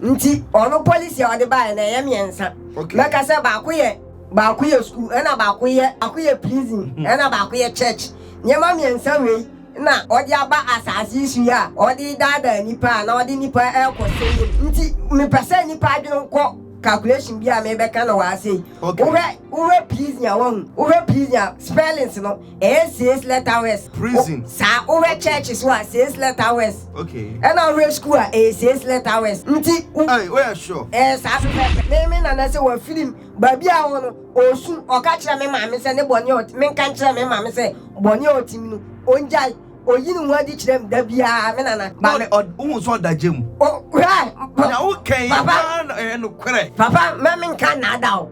Nti ɔno policy a ɔde baeɛ no ɛyɛ mmiɛnsa. Okay. Mɛka sɛ baako yɛ baako yɛ school ɛna baako yɛ baako yɛ prison ɛna baako yɛ church. Nneɛma mmiɛnsa wei na ɔde aba asaase yi so yi a ɔde daadaa nnipa a na ɔde nnipa ɛrekɔ sɛyɛ mu. Nti mepɛ sɛ nnipa adwene nkɔ calculation bi a mebɛka no wɔ ha sei. Okay. Wohwɛ wohwɛ prison a wahu wohwɛ prison a spellings no ɛyɛ sɛ sleta west prison saa wohwɛ church so a sɛ sleta west okay ɛna wohwɛ school a ɛyɛ sɛ sleta west nti ai woyɛ sure ɛyɛ saa pɛpɛpɛ me me nana sɛ wafiri m baabi a wɔ no ɔsu ɔka kyerɛ me maame sɛ ne bɔne ɔt menka nkyerɛ me maame sɛ bɔne a ɔtim no ɔngyae oyi ne ho adi kyerɛ m da biara me nana ba me wohu sɛ ɔda gya mu hwɛ na wokɛn papa ɛyɛ nokorɛ papa ma menka nnaada o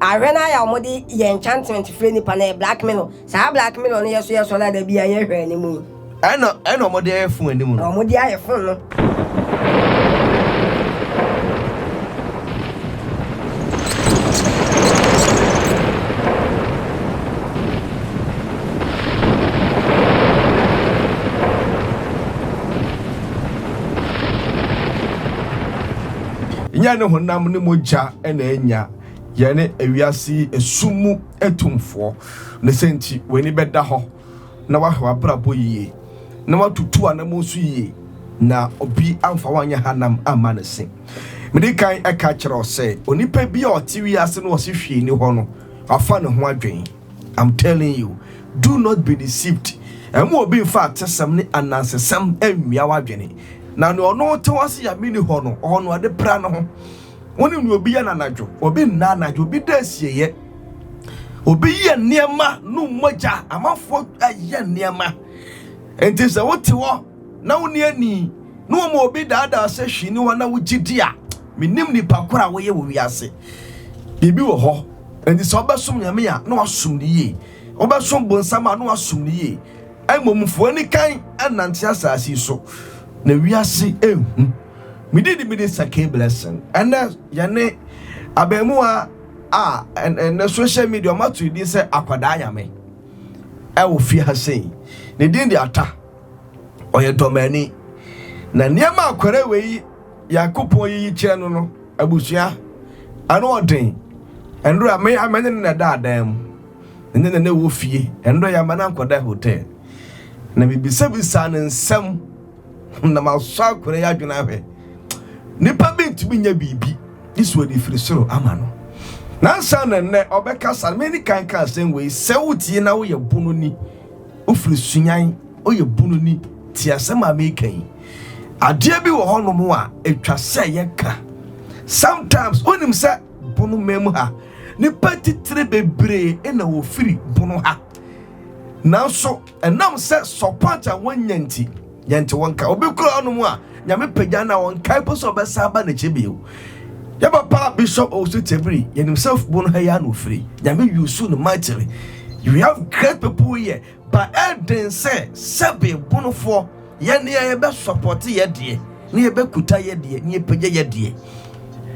Ahwɛ no ara a wɔde yɛ enchantment frɛ nipa no yɛ black mirror. Saa black mirror no yɛ so yɛ so na da bi a yɛ hwɛ anim yi. Ɛna ɛna wɔn de ayɛ fon anim no. Wɔn de ayɛ fon no. Nyɛ ne honam ne mogya. na anya yɛne wiase yi esum mu atumfoɔ. Ne sɛ nti, w'ani bɛda hɔ na wahwɛ w'abrabɔ yie, na watutu w'anammɔn nso yie, na obi amfa wo anyɛ hanam amma ne se. Medi kan ka kyerɛ wo sɛ, onipa bi a ɔte wiase na ɔse hwee nni hɔ no, wafa ne ho adwen. I'm telling you, do not be deceived. Mma obi mfa atesɛm ne anansesɛm nwia w'adwene. Na nea ɔno te hɔ se Nyame nni hɔ no, ɔno ɔde pra ne ho. Wonim nea obi yɛ no anadwo? Obi nna anadwo, obi da asieeɛ. Obi yɛ nneɛma no mogya, amanfoɔ yɛ nneɛma. Nti sɛ wote hɔ na wonni ani na wɔma obi daadaa sɛ hwii ne hɔ na wogye di a, menim nipa koro a woyɛ wɔ wiase. Biribi wɔ hɔ. Nti sɛ wobɛsom Nyame a na wasom no yie, wobɛsom bonsam a na wasom no yie. Mmom mfo anikan nnante asase so na wiase nhu. Me din de Mini Sake Blessing. Ɛnɛ yɛne abɛɛmuwa a ɛnɛ social media ɔma to din sɛ akwadaa nyame ɛwɔ fie ha sei. Ne din de Ata. Ɔyɛ dɔmani. Na nneɛma akwara wei yi Yakopɔn yiyi kyerɛ no no abusua ano ɔden. Ɛnora a me amene ne na ɛda adan mu. Ne ne ne wɔ fie. Ɛnora yɛ ama no ankɔda hotel. Na mebisa bisa ne nsɛm. na masɔ akwadaa yi adwene ahwɛ. Nipa bi ntumi nyɛ biribi ne sɛ ɔde firi soro ama no. Nansa na nnɛ ɔbɛkasa no, mene kan ka asɛm wei, sɛ wotie na woyɛ bono ni, wofiri sunyan, woyɛ bono ni, tie asɛm a meka yi. Adeɛ bi wɔ hɔnom a ɛtwa sɛ yɛka. Sometimes wonim sɛ bono ma mu ha, nipa titire bebree na wɔfiri bono ha. Nanso Ɛnam sɛ support a wɔnya nti, yɛnte wɔn nka. Obi kura ɔnom a Nyame pagya na ɔnkae po sɛ ɔbɛsan aba n'akyi bio. Yɛ papa Bishop Owusu Tebiri, yɛnim sɛ fubon ha yi ara na ofiri. Nyame use no mightily. We have great people here but ɛden sɛ sɛbe bonofoɔ yɛne a yɛbɛ support yɛ deɛ ne yɛbɛ kuta yɛ deɛ ne yɛ pagya yɛ deɛ.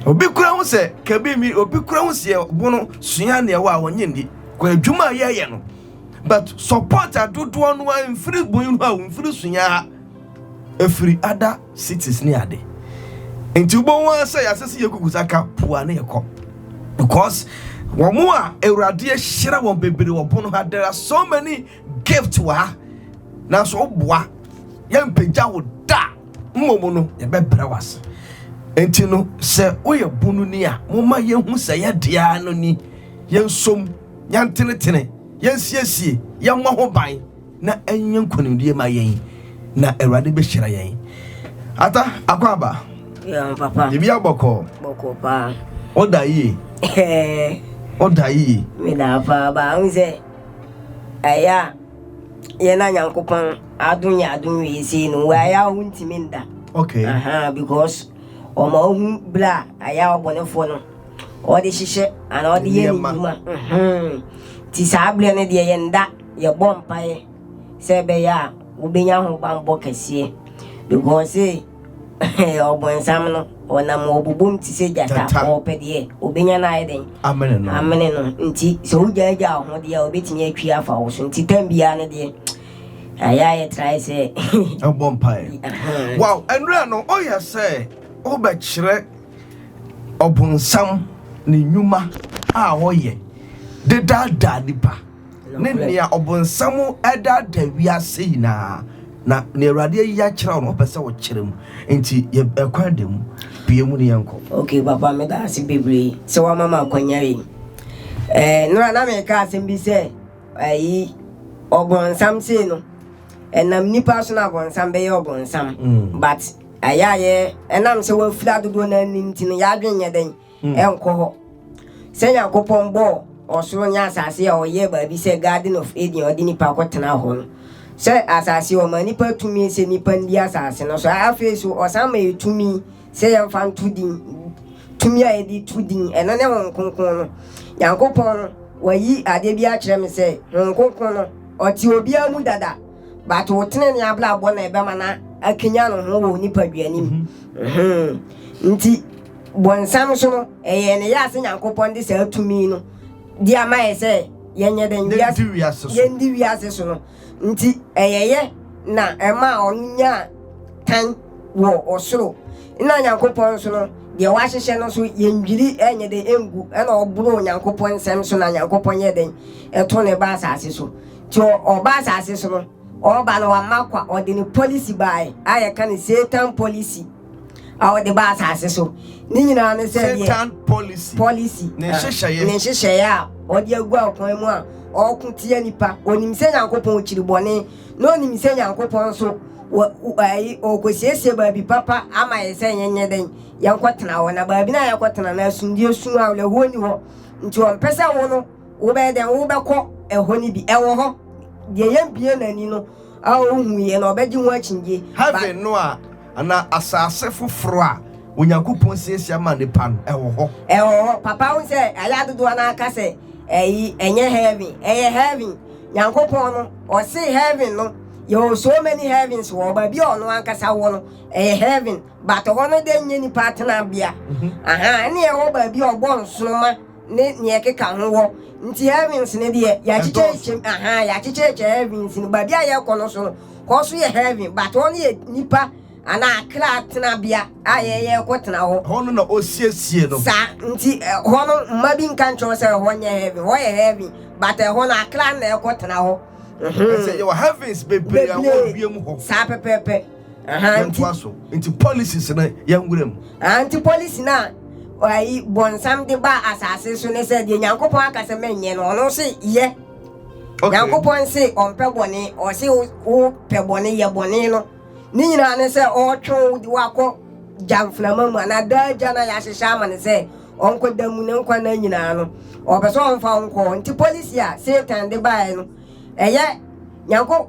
Obi kura ho sɛ kabi mi obi kura ho sɛ bono sua ne ɛwɔ a wɔnye ndi kɔ adwuma a yɛyɛ no. But support a dodoɔ no ara mfiri bun hɔ a mfiri so yɛn ha. Ɛfiri other cities ne ade. Nti wobɛhu ara sɛ yɛasɛ sɛ yɛkuku sa ka pua ne ɛkɔ. Because wɔn a Awurade ahyira wɔn bebree wɔ bun ha there are so many gift wɔ ha. Nanso woboa yɛmpagya wo da mmom no yɛbɛbrɛ wase. Nti no sɛ woyɛ bunu ni a moma yɛhu sɛ yɛdeɛ ara no ni yɛnsom. yɛntenetene, yɛnsiesie, yɛmmɔ ho ban na ɛnyɛ nkonimdie ma yɛn na Awurade bɛhyira yɛn. Ata, akwaaba. Yeah, papa. Bibi abɔkɔ. Bɔkɔ paa. Oda yie. Oda yie. Meda paa ba ho sɛ ɛyɛ a yɛn na Nyankopɔn adom yɛ adom wie sei no wɔ ɛyɛ a wo ntumi nda. Okay. Aha, because ɔma ohu bla ɛyɛ a ɔbɔnefoɔ no wɔde hyehyɛ anaa wɔde yɛ ne nnwuma nti saa berɛ no deɛ yɛn da yɛbɔ mpaeɛ sɛ ɛbɛyɛ a wobɛnya ho bammɔ kɛseɛ because ɔbɔnsam no ɔnam ɔbobom te sɛ gyata ɔpɛ deɛ obɛnya no ayɛ dɛn amene no nti sɛ wogyaagyaa ho deɛ obɛtumi atwi afa wo so nti tam biara no deɛ ayɛ ayɛ trae sɛ ɛbɔ mpaeɛ wow ɛnura no ɔyɛ sɛ wobɛkyerɛ Ɔbonsam ne nnwuma a ɔyɛ de daadaa nnipa ne nea ɔbonsam daadaa wiase nyinaa, na nea Awurade ayi akyerɛw no, ɔpɛ sɛ ɔkyerɛ mu. Enti yɛ ɛkwan da mu, pue mu ne yɛnkɔ. Okay, Papa, meda ase bebree sɛ wama ma akwanya yi. Eh, nora na meka asɛm bi sɛ, ayi, ɔbonsam sei no, ɛnam nipa so na ɔbonsam bɛyɛ ɔbonsam, mm. but Ɛyɛ a yɛ, ɛnam sɛ wɔafiri adodoɔ no ani nti no, yɛadwene nyɛ dɛn? Hmm. Ɛnkɔ hɔ. Sɛ Nyankopɔn bɔɔ ɔsoro ne asase a ɔyɛɛ baabi sɛ Garden of Eden ɔde nipa kɔtena hɔ no, sɛ asase ɔma nipa tumi sɛ nipa ndi asase no so, afei so ɔsan ma yɛ tumi sɛ yɛmfa nto din, tumi a yɛde to din, ɛno ne Honhom Kronkron no. Nyankopɔn no, wayi adeɛ bi akyerɛ me sɛ Honhom Kronkron no, ɔte obiara mu dada. But wo tenenee abrabɔ na ɛbɛma no akanyan ne ho wɔ wo nipadua no mu. Mm-hmm. Nti, bɔnsam so no, ɛyɛ ne yɛ ase Nyankopɔn de saa tumi no de ama yɛ sɛ yɛnyɛ dɛn wiase yɛndi wiase so no. Nti, ɛyɛ yɛ na ɛma ɔno nyaa tan wɔ ɔsoro. Na Nyankopɔn nso no, deɛ wahyehyɛ no nso yɛndwiri ɛnyɛ dɛn ɛngu ɛna ɔboro Nyankopɔn nsɛm so na Nyankopɔn yɛ dɛn ɛto ne ba asase so. Nti ɔba asase so no, ɔba no wamma kwa, ɔde ne policy baae a yɛka no Satan policy a ɔde ba asase so. Ne nyinaa ne sɛ deɛ Satan policy, policy ne ah, nhyehyɛeɛ, ne nhyehyɛeɛ a ɔde agu akwan mu a ɔko tia nipa. Onim sɛ Nyankopɔn kyiri bɔne, na onim sɛ Nyankopɔn nso wɔ ayi ɔkɔsiesie baabi papa ama yɛ sɛ yɛnyɛ dɛn yɛnkɔtena hɔ, na baabi no a yɛkɔtena no asomdwoeɛ sum awerɛhoɔ ni hɔ. Nti ɔmpɛ sɛ wo no Wobɛyɛ dɛn? Wobɛkɔ ɛhɔ no bi. Ɛwɔ hɔ. Deɛ yɛbue n'ani no a ɔnhuiɛ no, ɔbɛgye ho akyinnyeɛ. Heaven no a, anaa asase foforɔ a Onyankopɔn siesie ama nnipa no, ɛwɔ hɔ. Ɛwɔ hɔ. Papa, wohu sɛ ayɛ a dodoɔ no ara ka sɛ ɛyi, ɛnyɛ heaven. Ɛyɛ heaven. Nyankopɔn no, Ɔse heaven no, yɛwɔ so many heavens wɔ hɔ. Baabi a Ɔno Ankasa wɔ no, ɛyɛ heaven. But hɔ no deɛ nyɛ nnipa tenabea. Ahaa, ɛnna ɛwɔ baabi a Ɔbɔɔ nsoromma. ne nea ɛkeka ho wɔ. Nti heavens no deɛ, yɛakyekyɛ kyɛm, ahaa, yɛakyekyɛ kyɛ heavens no. Baabi a yɛkɔ no so no, hɔ so yɛ heaven, but hɔ no yɛ nipa anaa akra tenabea a yɛyɛ kɔ tena hɔ. Hɔ no na ɔsiesie no. Saa, nti hɔ no, mma bi nka nkyerɛ wo sɛ hɔ nyɛ heaven, hɔ yɛ heaven, but ɛhɔ no akra no na ɛkɔ tena hɔ. Ɛsɛ yɛwɔ heavens bebree a ɛwɔ wiem hɔ. Saa pɛpɛɛpɛ. Yɛntoa so. Nti policies no yɛn nwura mu. Nti policy no a ayi bɔnsam de ba asase so ne sɛ deɛ Nyankopɔn aka sɛ menyɛ no ɔno se yɛ. Nyankopɔn se ɔmpɛ bɔne, ɔse wo pɛ bɔne yɛ bɔne no. Ne nyinaa ne sɛ ɔretwe wo de wakɔ gya mframa mu anaa daa gya no a yɛahyehyɛ ama no sɛ ɔnkɔ da mu ne nkwa nna nyinaa no. Ɔpɛ sɛ ɔmfa wo nkɔ hɔ. Nti policy a Satan de baeɛ no ɛyɛ Nyankopɔn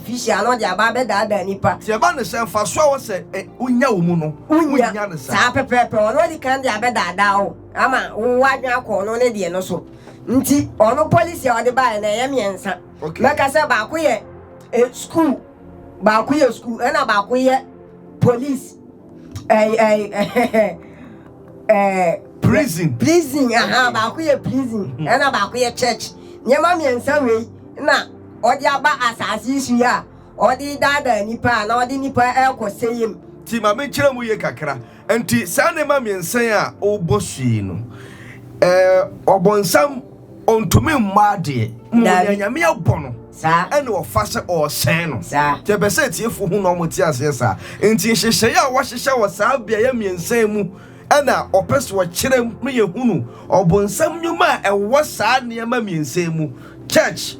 Fi hyia no de aba abɛdaadaa nnipa. Sɛ ɛba no sɛ mfaso a ɛwɔ sɛ wunya wɔ mu no, wunnya no saa. Saa pɛpɛɛpɛ, ɔno adi kan de abɛdaadaa wo ama wowɔ adwene akɔ ɔno ne deɛ no so. Nti ɔno policy a ɔde baeɛ no ɛyɛ mmiɛnsa. Mɛka sɛ baako yɛ sukuu, baako yɛ sukuu ɛna baako yɛ police. ɛɛ ɛɛ ɛɛ ɛɛ prison prison aha baako yɛ prison hmm. ɛna baako yɛ church nneɛma mmiɛnsa wei na ɔde aba asaase yi so yi a ɔde daadaa nipa a na ɔde nipa ɛkɔ sɛyɛ mu. ti maame nkyerɛ mu yie kakra nti saa nneɛma mmiɛnsa a ɔbɔ so yi no ɛɛ ɔbɔnsam Ɔntumi mmɔ adeɛ. Mmom Daabi. deɛ Nyame abɔ no Saa. ɛna ɔfa sɛ ɔresɛe no. Saa. Nti ɛpɛ sɛ atiefoɔ hu na wɔte aseɛ saa. Nti nhyehyɛeɛ a wɔahyehyɛ wɔ saa beaeɛ mmiɛnsa yi mu na ɔpɛ sɛ ɔkyerɛ mu ma yɛhunu ɔbonsam nnwuma a ɛwɔ saa nneɛma mmiɛnsa yi mu, church,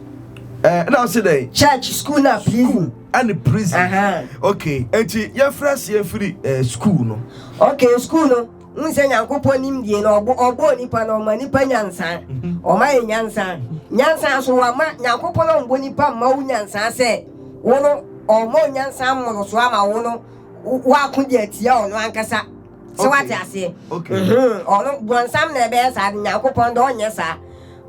eh, na ɔse dɛn? Church, school na prison. Ɛne prison. Aha. Okay, nti yɛmfiri aseɛ mfiri eh, school no. Okay, school no. Wohu sɛ Nyankopɔn nimdie no, ɔbɔ, ɔbɔɔ nipa no, ɔma nipa nyansaa. Ɔma yɛ nyansaa. Nyansaa so wama, Nyankopɔn ɔmbɔ nipa mma wo nyansaa sɛ, wo no, ɔmma wo nyansaa mmorosoɔ ama wo no, woako de atia ɔno ankasa. Sɛ wate Okay. aseɛ? Okay. Mhm. Ɔno, brɔnsam na ɛbɛyɛ saa de, Nyankopɔn de ɔnyɛ saa.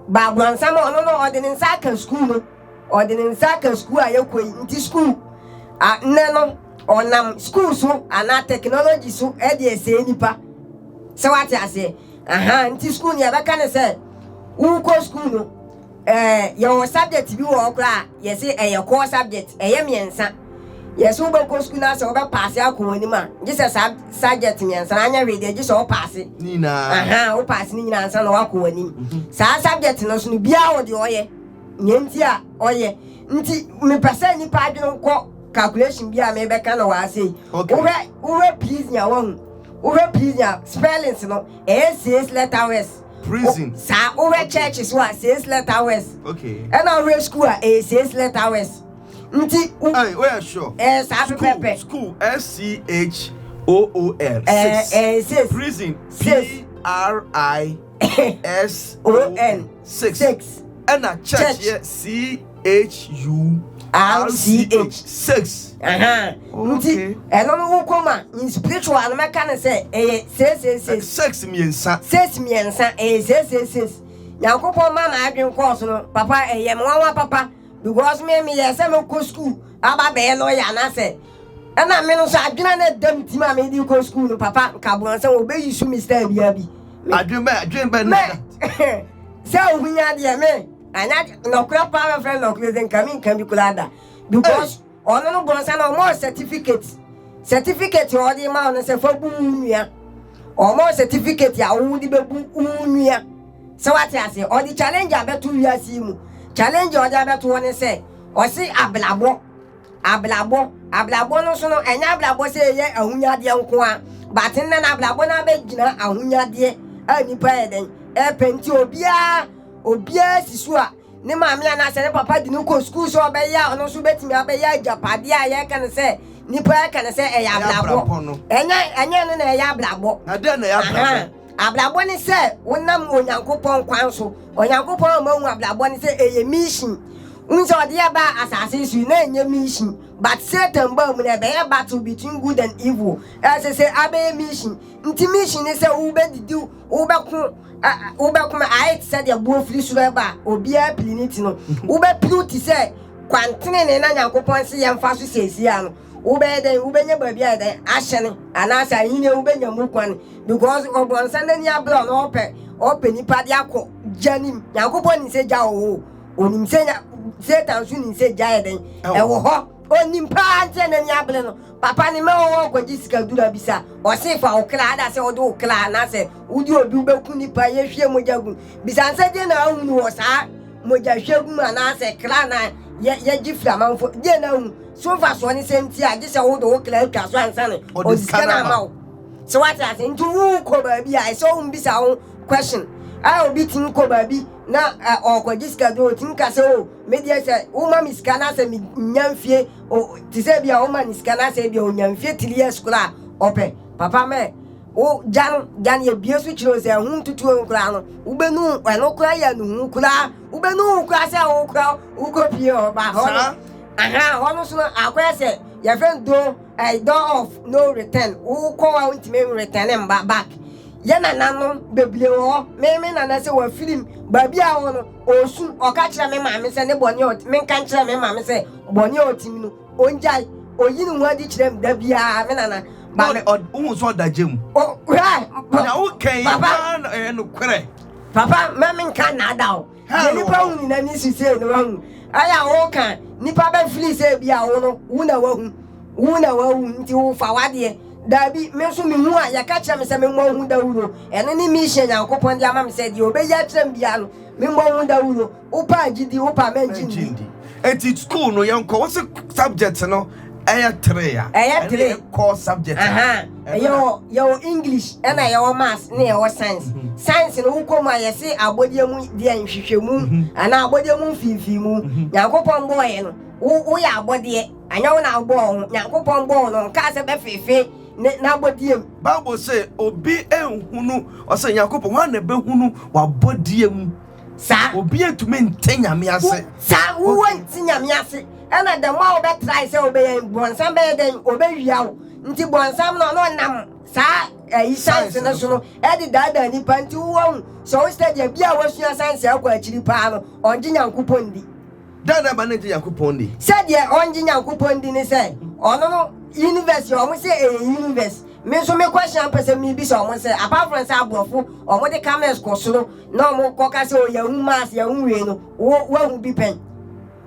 Ba brɔnsam, ɔno no, ɔde ne nsa aka sukuu no. ɔde ne nsa aka sukuu a yɛkɔ yi nti sukuu a nnɛ no ɔnam sukuu so anaa technology so ɛde ɛsɛe nipa sɛ wate aseɛ aha nti sukuu no yɛbɛka ne sɛ wokɔ sukuu no ɛɛ yɛwɔ subject bi wɔ hɔ koraa yɛse ɛyɛ core subject ɛyɛ mmiɛnsa yɛse wobɛkɔ sukuu no asɛ wobɛpaase akɔ wɔn anim a gye sɛ saa subject mmiɛnsa no anyɛ hwee deɛ gye sɛ wopaase aha wopaase ne nyinaa nsa na wakɔ wɔn anim mhm. saa subject no so no biara wɔ deɛ ɔyɛ Nea nti a ɔyɛ nti mepɛ sɛ nipa adwene nkɔ calculation bi a mebɛka no wɔ ase yi. Okay. Wohwɛ wohwɛ prison a wahu. Wohwɛ prison a spellings no ɛyɛ says letter west. Prison. O, saa wohwɛ okay. church so a says letter west. Okay. Ɛna wohwɛ school a ɛyɛ says letter west. Nti. Ɛɛ o yɛ sure. Ɛɛ saa pɛpɛpɛ. School S C H O O L. Ɛɛ ɛɛ says. Prison P R I S O N. Six, Six. ɛna church yɛ c-h-u-r-c-h six Ahan. nti Okay. ɛno no wo kɔm a in spiritual no mɛka ne sɛ ɛyɛ seesiesie six mmiɛnsa ses mmiɛnsa ɛyɛ seesiesie nyankopɔn ma ma adwen kɔɔ so no papa ɛyɛ me nwanwa papa because me meyɛ sɛ mɛkɔ skuul aba bɛyɛ lɔya anaasɛ Ɛna me no nso adwene a na ɛda me tim a mede rekɔ sukuu no, papa nka aboa sɛ wɔbɛyi su me style biara bi. Me, adwene bɛ adwene bɛ na ɛda. sɛ ohun ya deɛ me anya nɔkorɛ paa bɛfrɛ nɔkorɛ sɛ nka me nka bi koraa da because ɔno no bɔnsa na ɔmɔ certificate certificate a ɔde ma ɔno sɛ fa bu wo nua ɔmɔ certificate a wo de bɛbu wo nua sɛ wate ase ɔde challenge abɛto wiase mu challenge a ɔde abɛto wɔ ne sɛ ɔse abrabɔ Abrabɔ, Abrabɔ no so no, ɛnyɛ abrabɔ sɛ yɛyɛ ahonyadeɛ nko ara, but nnɛ no abrabɔ no abɛgyina ahonyadeɛ a nnipa yɛ dɛn ɛpɛ nti obiara obiara si so a ne maame anaasɛ ne papa de no kɔ sukuu sɛ ɔbɛyɛ a ɔno nso bɛtumi abɛyɛ agyapadeɛ a yɛka no sɛ nnipa ɛka no sɛ ɛyɛ abrabɔ ɛnyɛ ɛnyɛ no na ɛyɛ abrabɔ. Ɛdɛn na ɛyɛ abrabɔ? Abrabɔ ne sɛ wonam Onyankopɔn kwan so. Onyankopɔn ama hu abrabɔ ne sɛ ɛyɛ mission. Wohu sɛ ɔde yɛ baa asase so yi, na ɛnyɛ mission. But Satan baa mu na ɛbɛyɛ battle between good and evil. Ɛsɛ sɛ abɛyɛ mission. Nti mission ne sɛ wobɛdidi, wobɛko, ɛ, wobɛko ma ayɛ te sɛ deɛ boɔ firi soro ɛba a, obiara piri ne ti no. Wobɛpiriw te sɛ kwan tenenee na Nyankopɔn se yɛmfa so seesei a no. wobɛyɛ dɛn wobɛnya baabi ayɛ dɛn ahyɛne anaasɛ ahenni a wobɛnya mu kwan because ɔbɔnsa n'ani abere a na ɔpɛ ɔpɛ nipa de akɔ gya nim nyankopɔn nim sɛ gya wɔ hɔ onim sɛ nya satan so nim sɛ gya yɛ dɛn ɛwɔ hɔ onim paa nti n'ani abere no papa ne ma wɔwɔ kɔgye sika dura bi sa ɔse fa wo kra ada sɛ wode wo kra anaasɛ wode obi wobɛku nipa yɛhwie mogya gu bisa nsɛ deɛ na ahunu wɔ saa mogya hwɛ gu mu anaasɛ kra na yɛgye firi amanfoɔ deɛ na ahunu So mfasoɔ ne sɛ nti a gye sɛ wode wo kra twa so ansa na ɔde sika no ama wo sɛ wate ase nti wokɔ baabi a ɛsɛ wombisa wo question a obi tumi kɔ baabi na ɔkɔgye sika bi ɔtumi ka sɛ o medeɛ sɛ woma me sika no asɛ menya mfie te sɛ bi a woma ne sika no asɛ bi a ɔnya mfie three years koraa ɔpɛ papa mɛ wo gya no gya no yɛbie so kyerɛ sɛ ɛho ntutuo no koraa no wobɛnu ɛno koraa yɛ no hu koraa wobɛnu koraa sɛ wo koraa wokɔpie ɔba hɔ no Ahaa hɔ no so no akɔyɛ sɛ yɛfrɛ no door ɛɛ door of no return wokɔ hɔ a wontumi return mba back yɛ nananom bebiree wɔ hɔ me me nana sɛ wafiri m baabi a ɔwɔ no ɔresu ɔka kyerɛ me maame sɛ ne bɔne a ɔte menka nkyerɛ me maame sɛ bɔne a ɔte mu no ɔngyae ɔyi ne ho adi kyerɛ m da biara me nana ba Ɔne ɔd wohu sɛ ɔda gya mu. o hwɛ Nea woka yi papa paa na ɛyɛ nokorɛ. papa mma menka nnaadaw. Deɛ nipa hu nyina ne su sei no wahu ayɛ a woka nipa bɛ fili sɛ ebi a wo no wo na wahu wo na wahu nti wo fa wadeɛ daabi me nso me hu a yɛka kyerɛ me sɛ me mmɔ ho dawuro ɛno ne mission Nyankopɔn de ama me sɛ deɛ ɔbɛyi akyerɛ me biara no me mmɔ ho dawuro wo paa gyidi wo paa mɛngye ndi. Enti school no yɛnkɔ wɔsi subject no. ɛyɛ three a ɛyɛ three ɛyɛ core subject a yɛwɔ yɛwɔ english ɛna mm. yɛwɔ maths ne yɛwɔ science mm-hmm. science no wokɔ mu a yɛse abɔdeɛ mu deɛ nhwehwɛmu mm-hmm. anaa abɔdeɛ mu mfimfini mu mm-hmm. nyankopɔn bɔɔyɛ no woyɛ abɔdeɛ anyɛ wo na wobɔɔ ho nyankopɔn bɔɔ no ɔnkaa sɛ bɛfefe ne n'abɔdeɛ mu bible sɛ obi nhunu ɔsɛ nyankopɔn hɔ a na ɛbɛhunu wabɔdeɛ mu Saa. Obi antumi nte Nyame ase. Saa, wo wo nte Nyame ase. Ɛna the more wobɛ try sɛ wobɛyɛ yi, bɔnsam bɛyɛ dɛn? Obɛ wia wo. Nti bɔnsam no ɔno ɔnam saa ɛyi science no so no ɛde daadaa nipa. Nti wo wɔhu, sɛ wo study a, bia wosua science akɔ akyiri paa no, ɔngye Nyankopɔn ndi. Dɛn na ɛma no ngye Nyankopɔn nni? Sɛdeɛ ɔngye Nyankopɔn nni ne sɛ, ɔno no, University, ɔmo se ɛyɛ Universe. Me nso me kɔ hyia mpɛ sɛ mebisa ɔmo nsɛ, apart from sɛ aborɔfo, ɔmo de camels kɔ soro na ɔmo kɔ ka sɛ o yɛahu Mars, yɛahu wei no, wo, woahu bi pɛn?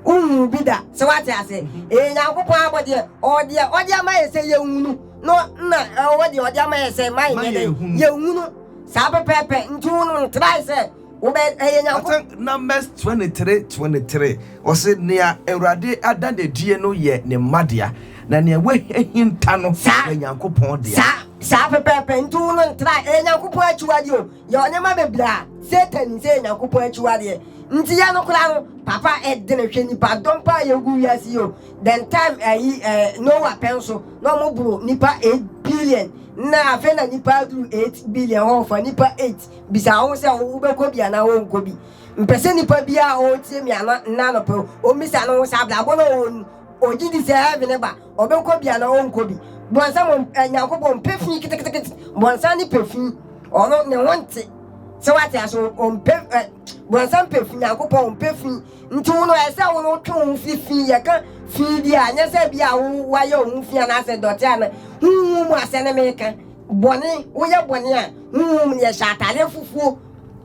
Wonhuu bi da, sɛ woate aseɛ? Ee, Nyankopɔn abɔdeɛ, ɔwɔ deɛ ɔde ama yɛ sɛ yɛnhunu, na nna ɔwɔ deɛ ɔde ama yɛ sɛ ma yɛnyɛ dɛn? Yɛnhunu. Saa pɛpɛɛpɛ, nti wo no, ntrae sɛ Wobɛyɛ Nyankopɔn. Mat. Numbers twenty three twenty three, Ɔse, Nea Awurade ada no adie no yɛ ne mma dea, na nea wahinta no yɛ Nyankopɔn dea. Saa, saa pɛpɛɛpɛ, nti wo no ntra, ɛyɛ Nyankopɔn akyiwadeɛ o, yɛ ɔnneɛma bebree a, Satan nim sɛ ɛyɛ Nyankopɔn akyiwadeɛ, nti yɛ no koraa no, papa ɛdene, hwɛ nipa dɔm paa yɛgu wiase yi o, then time ayi ɛɛ Noah pɛ nso, na ɔmo boro nipa eight billion, na afei na nipa aduru eight billion hɔ, ɔfa nipa eight. bisa wo ho sɛ wobɛkɔ bi anaa wonkɔ bi mpɛ sɛ nipa biara a ɔretie me ana nna anɔpɛ ɔmmisa no ho sɛ abrabɔ no ɔwɔ no ɔgye di sɛ heaven ne ba ɔbɛkɔ bi anaa ɔnkɔ bi bɔnsam eh, nyankopɔn mpɛ fi ketekete bɔnsam ne pɛ fi ɔno ne ho nte sɛ wate ase ɔmpɛ eh, bɔnsam pɛ fi nyankopɔn ɔmpɛ fi nti wo no ɛsɛ wo no wotwe wo ho fi fi yɛka fi bi a nyɛ sɛ bi a wo wayɛ wo ho fi anaasɛ dɔte ana honhu mu asɛ ne meka Bɔne, woyɛ bɔne a, honhom no yɛhyɛ atare fufuo.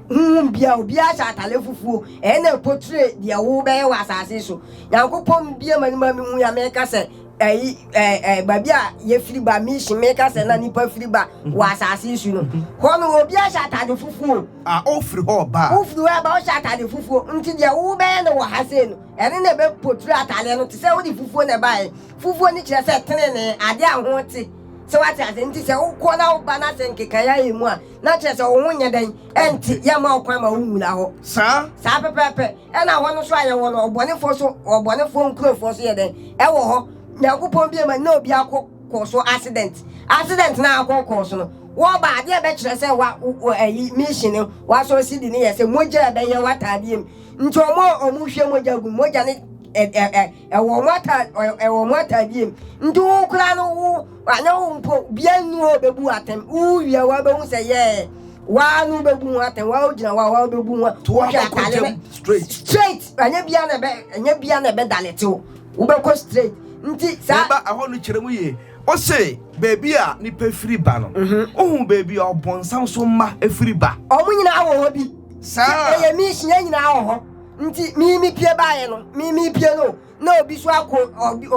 Honhom biara, obiara hyɛ atare fufuo. Ɛyɛ na ɛpotire deɛ wobɛyɛ wɔ asase so. Nyankopɔn bie ma nima mehu ya meka sɛ ɛyi ɛɛ ɛɛ baabi a yɛfiri ba mission meka sɛ na nipa firi ba wɔ asase so no. Hɔ no obiara hyɛ atare fufuo. A ofiri hɔ ba. Ofiri hɔ ba ɔhyɛ atare fufuo. Nti deɛ wobɛyɛ no wɔ ha sei no, ɛno na ɛbɛpotire atareɛ no te sɛ wode fufuo na ɛbaeɛ. Fufuo no kyerɛ sɛ tenenee, adeɛ a ho te. So wate ase? Nti sɛ wokɔ na woba na sɛ nkekae ayɛ mu a, na kyerɛ sɛ wo ho nyɛ dɛn? Ɛnte, yɛmma ɔkwan ma wonwura hɔ. Saa? Saa pɛpɛɛpɛ. Ɛna hɔ no so a yɛwɔ no, ɔbɔnefoɔ so, ɔbɔnefoɔ nkurofoɔ so yɛ dɛn? Ɛwɔ hɔ. Nyankopɔn bie ma na obi akɔ kɔɔ so accident. Accident na akɔ kɔɔ so no, wɔba adeɛ ɛbɛkyerɛ sɛ wa, wo, ayi, mission no, wasɔ sidi no yɛ sɛ mogya ɛbɛyɛ w'ataadeɛ mu. Nti wɔn a wɔhwie mogya gu no, mogya no, ɛ, ɛ, ɛ, Ɛwɔ mo ata ɛwɔ mo atadiem nti wo koraa no wo anyɛ wo mpo bia nni hɔ bɛbu wo atɛm wowie wa bɛhu sɛ yɛɛ waa no bɛbu ho atɛm waa wogyina wa waa wobɛbu ho to wohwɛ atade no straight anyɛ bia na ɛbɛ anyɛ bia na ɛbɛdaletew wobɛkɔ straight nti saa ɛba ɛhɔ no kyerɛ mu yie ɔse baabi a nipa firi ba no wohu baabi a ɔbɔnsam so mma ɛfiri ba. Ɔmo nyinaa wɔ hɔ bi saa ɛyɛ mission yɛn nyinaa wɔ hɔ. Nti mii mi pie baayɛ no mii mi pie no na obi so akɔ ɔbi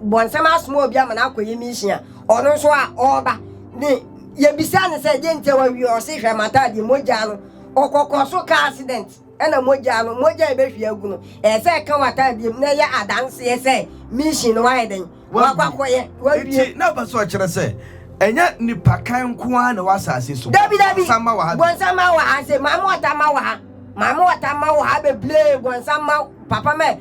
bɔnsɛm asoma obi ama no akɔyɛ mission a ɔno nso a ɔreba ne yɛbisa no sɛ deɛ nti a wawie ɔse hwɛ mataadeɛ mogyaa no ɔkɔkɔ so car accident ɛna mogyaa no mogya a ɛbɛhwie agu no ɛsɛ ɛka w'ataadeɛ mu na ɛyɛ adanseɛ sɛ mission no wayɛ dɛn wakɔ akɔyɛ wabie. Eti na ɔpɛ sɛ ɔkyerɛ sɛ ɛnyɛ nipa kan nko ara na ɛwɔ asase so. Dabi dabi bɔnsamma wɔ ha. Bɔnsamma wɔ ha se maame ɔtamma wɔ ha maame ɔtamma wɔ ha bebree bɔnsamma papa mɛ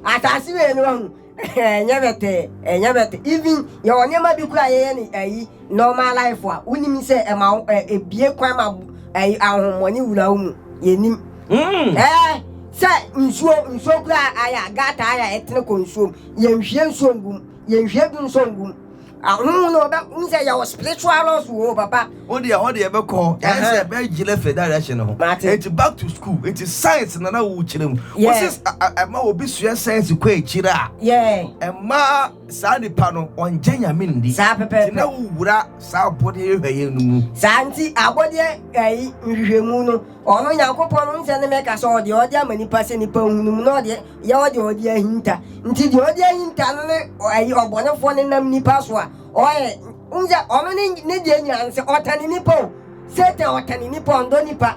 asase wei no wahu ɛnyɛ bɛtɛ ɛnyɛ bɛtɛ even yɛwɔ nneɛma bi kura yɛyɛ ne ayi Normal life a wonim sɛ ɛma wo ɛ ebie kwan ma ɛ ahohommɔne wura wo mu yɛnim ɛ sɛ nsuo nsuo kura ayɛ a gata ayɛ a ɛtene kɔ nsuo mu yɛnhwie nsuo ngum yɛnhwie du nsuo ngum ahohom no ɔbɛ wo sɛ yɛwɔ spiritual laws wɔ papa. wo deɛ hɔ deɛ ɛbɛkɔ ɛyɛ sɛ ɛbɛgyina fɛ direction no ho Mate. eti back to school eti science na na wokyerɛ mu Yeah. wosi ɛma obi sua science kɔ akyire a Yeah. ɛma Saa nipa no, ɔnngye Nyame nni. Saa pɛpɛɛpɛ. Nti na wowura saa abɔdeɛ yɛhwɛeɛ no mu. Saa nti abɔdeɛ ɛyi nhwehwɛmu no, ɔno Nyankopɔn no, nsɛ ne mɛka sɛ ɔdeɛ ɔde ama nipa sɛ nipa nhunu mu, na ɔdeɛ yɛ ɔdeɛ ɔde ahinta. Nti deɛ ɔde ahinta no ne ɛyi ɔbɔnefoɔ no nam nipa so a ɔyɛ, wonsɛ ɔno ne ne deɛ nyinaa no sɛ ɔtane nipa o, Satan ɔtane nipa, ɔndɔ nipa.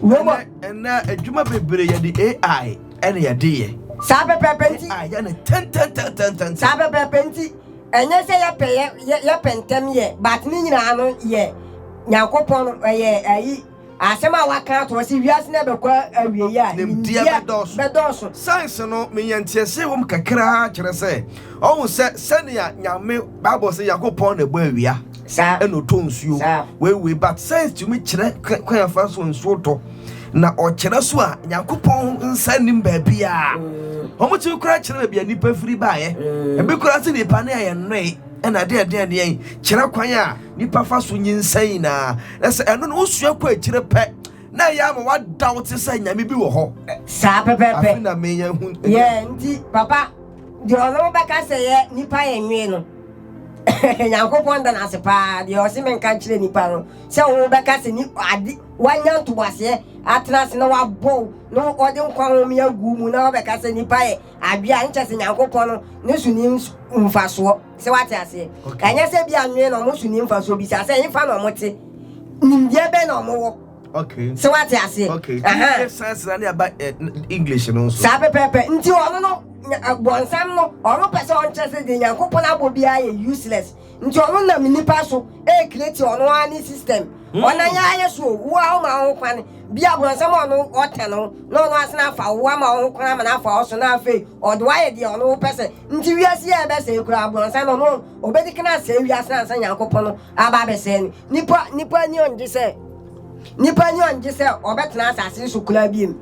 Roma. Ɛnɛ adwuma bebree yɛde AI ɛna yɛde yɛ. Saa pɛpɛɛpɛ nti. AI yɛ ne tɛntɛntɛntɛntɛn. Saa pɛpɛɛpɛ nti. Ɛnyɛ sɛ yɛpɛ yɛ yɛpɛ ntɛm yɛ but ne nyinaa no yɛ Nyankopɔn no ɛyɛ ayi asɛm a waka ato hɔ sɛ wiase no ɛbɛkɔ awie yi a nimdeɛ bɛdɔɔso. bɛdɔɔso. Science no menya nteɛseɛ wɔ mu kakraa kyerɛ sɛ ɔhu sɛ sɛnea Nyame Bible sɛ Nyankopɔn na ɛbɔ awia. Saa na ɔtɔ nsuo. Saa. Wei wei but science tumi kyerɛ kwan a fa so nsuo tɔ na ɔkyerɛ so a Nyankopɔn nsa nnim baabiara. Mm. Wɔn tumi koraa kyerɛ baabi a nipa firi baayɛ. Mm. Ebi koraa sɛ nipa ne ayɛ nnoe ɛna adeɛ ɛdeɛ ɛdeɛ kyerɛ kwan a nipa fa so nyinsɛn nyinaa. Na sɛ ɛno no wosua kɔ akyire pɛ na ɛyɛ ama wada wo te sɛ nyame bi wɔ hɔ. Saa pɛpɛpɛ. Afi na menya hu. Yɛ nti papa deɛ ɔno bɛka sɛ yɛ nipa yɛ nnoe no. nyankopɔn da no ase paa deɛ ɔse menka nkyerɛ nipa no sɛ wo bɛka sɛ ni ade wanya ntoboaseɛ atena ase na wabɔ wo na ɔde nkwa home agu mu na wabɛka sɛ nipa yɛ adwe a nkyɛ sɛ nyankopɔn no ne so ni mfasoɔ sɛ wate aseɛ ɛnyɛ sɛ bi anwene na ɔmo so ni mfasoɔ bisa sɛ ɛmfa na ɔmo te nimdeɛ bɛn na ɔmo wɔ Okay. sɛ wate aseɛ okay. uh-huh. sansera ne aba eh, english no nso saa pɛpɛpɛ nti ɔno no eh, bɔnsam no ɔno pɛ sɛ ɔnkyerɛ sɛ deɛ nyankopɔn abɔ biara yɛ useless nti ɔno nam nnipa so ɛrekreti eh, ɔno ara ne system hmm. ɔna yɛ ayɛ so wo a woma wo ho kwane bia bɔnsam ɔno ɔtɛ no na ɔno asene afa wo ama wo ho kwan ama no afa wo so na afei ɔde woayɛ deɛ ɔno wopɛ sɛ nti wiase yɛ ɛbɛsɛe koraa bɔnsam no ɔno ɔbɛdi kana sɛe wiase no ansa nyankopɔn no aba abɛsɛe no Nipa nipa ani ɔngye sɛ nipa ani ɔngye sɛ ɔbɛtena asase so koraa biem.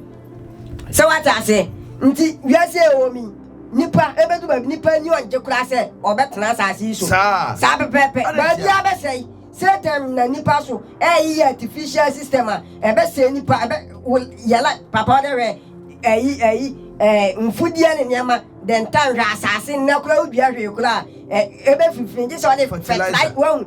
Sɛ wate ase nti wiase a ɛwɔ mi nipa ebedu baabi nipa ani ɔngye koraa sɛ ɔbɛtena asase so. Saa pɛpɛɛpɛ baabi abɛsɛe. Satan na nipa so ɛyeyɛ artificial system a ɛbɛsɛe nipa ɛbɛ yɛla papa ɔdɛ hwɛ ɛyi ɛyi ɛɛ mfudeɛ ne nneɛma dɛntan hwɛ asase nnɛ koraa wodua hwee koraa ɛbɛfifiri gye sɛ ɔde fertilizer wɔn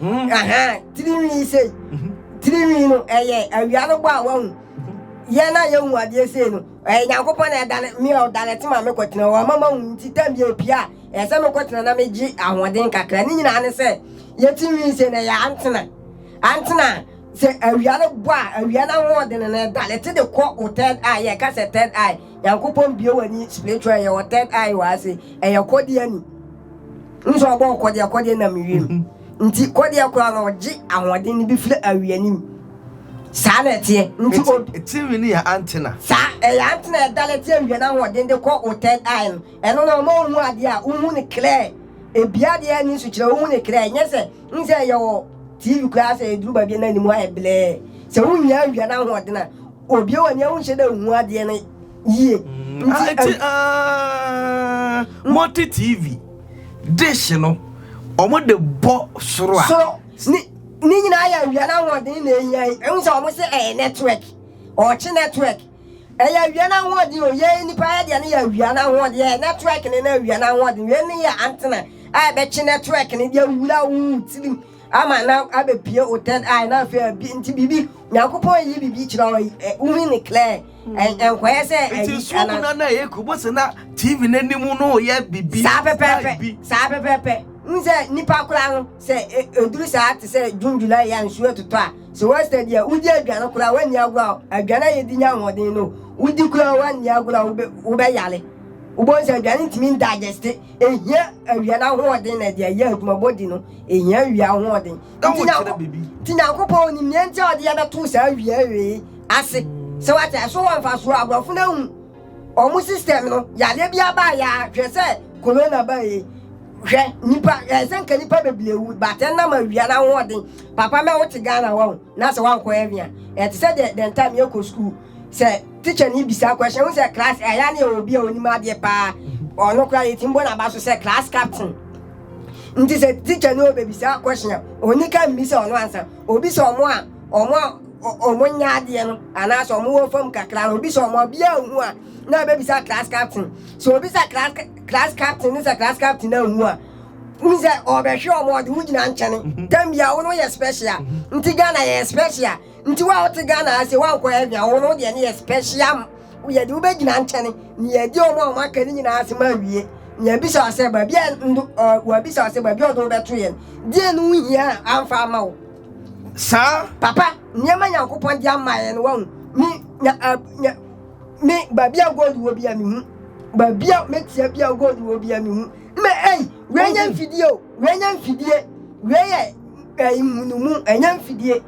Hmm, aha, tirinwii sei. Mhm. Tirinwii no, ɛyɛ awia no bɔ a wahu. Yɛn a yɛhu adeɛ sei no, ɛyɛ Nyankopɔn na ɛda no, me a ɔda no ɛte ma mekɔtena hɔ, ɔma mahu nti tam bi ɛpie a, ɛyɛ sɛ mekɔtena na megye ahoɔden kakra. Ne nyinaa ne sɛ, yɛ tirinwii sei no ɛyɛ antena. Antena a, sɛ awia no bɔ a, awia no ahoɔden no ɛda no ɛte de kɔ wo third eye, yɛka sɛ third eye, Nyankopɔn bue w'ani spiritual ɛyɛ wɔ third eye wɔ ase ɛyɛ kɔdeɛ ani wohu sɛ ɔbɔɔ kɔdeɛ kɔdeɛ nam wiem nti kɔdeɛ koraa no ɔgye ahoɔden no bi firi awi anim saa na ɛteɛ nti o Tirinwi no yɛ antenna. saa ɛyɛ antenna ɛdala ti awia no ahoɔden de kɔ wo third eye no ɛno na ɔma wohu adeɛ a wohu no clear ebia adeɛ ani nso kyerɛ wohu no clear ɛnyɛ sɛ N sɛ yɛwɔ TV koraa sɛ ɛduru baabi na anim ayɛ blɛɛ. Sɛ wonnya awia no ahoɔden a, obie w'ani a wonhyɛ da nhu adeɛ no yie. Mm, Nti, ah, ti, ah, multi TV dish no wɔn de bɔ soro a. Soro ne ne nyinaa yɛ awia no ahoɔden na ehia yi. Ehu sɛ wɔn sɛ ɛyɛ network, ɔɔkye network. Ɛyɛ awia no ahoɔden o, yɛn nnipa yɛ deɛ no yɛ awia no ahoɔden, yɛ network no na awia no ahoɔden. Wei no yɛ antenna a ɛbɛkye network no de awura wo tirim ama na abɛpie wo third eye na afei abi nti biribi Nyankopɔn yi biribi kyerɛ wo ɛ wohu ne clear ɛ nkɔyɛ sɛ Nti ayi suom anaa no na ɛyɛ ku bose na TV no anim no yɛ biribi saa style pɛpɛɛpɛ bi. saa pɛpɛɛpɛ wohu sɛ nnipa koraa no Sɛ ɛduru saa te sɛ June, July a nsuo retotɔ a, sɛ woasɛ deɛ wodi aduane koraa a woanni agorɔ a, aduane a yɛdi nya ahoɔden no, wodi koraa a woanni agorɔ a wobɛyare. Wobɛhu sɛ aduane ntumi ndigeste. Ɛhia awia no ahoɔden na ɛde ayɛ adwuma. Body no, ɛhia awia ahoɔden. Nti Nyankopɔn nim deɛ nti a ɔde yɛbɛtoo saa awia wei ase. Sɛ woate aseɛ, so wɔ mfasoɔ? Aborɔfo no ahu. Ɔmo system no yareɛ biara baeɛ a hwɛ sɛ corona baeɛ hwɛ nipa ɛɛ sɛ nka nipa bebree wu but ɛnam awia n'ahoɔden papa mɛ wote Ghana wɔ ho na sɛ wankɔ heaven a ɛte sɛ deɛ the time yɛkɔ school sɛ teacher ni bisa question ho sɛ class ɛyɛ a ne yɛwɔ obi a onim adeɛ paa ɔno koraa yɛtim bɔ n'aba so sɛ class captain nti sɛ teacher ni obebisa question a onika mmi sɛ ɔno ansa obi sɛ ɔmo a wɔn a wɔn nyɛ adeɛ no anaasɛ wɔn wɔ fam kakra no obi sɛ wɔn ɔbea ahu a na ebebisa class captain sɛ obi sɛ class class captain ne sɛ class captain ahu a n sɛ ɔbɛhwɛ wɔn ɔde wo gyina nkyɛn mhm. tam bia wɔn yɛ special mhm. nti ghana yɛ special nti wɔn a wɔte ghana ase wɔn ankɔ yɛ hwia wɔn deɛ ne yɛ special yɛde wo bɛgyina nkyɛn ne yɛde wɔn a wɔn aka ne nyinaa ase ma awie yɛn bisa ɔsɛ baabi a ndo ɔɔ wɔn bisa ɔsɛ baabi a ɔde wo bɛto yɛn deɛ no ho hia anfa ama wo. Saa. Papa, nneɛma Nyankopɔn de ama yɛ no wahu. Me, nya, a, nya, me, baabi a gold wɔ bi a mehu. Baabi a metia bi a gold wɔ bi a mehu. Mme, ei, wei nyɛ mfidie o, wei nyɛ mfidie, wei yɛ ɛyi munumu, ɛnyɛ mfidie.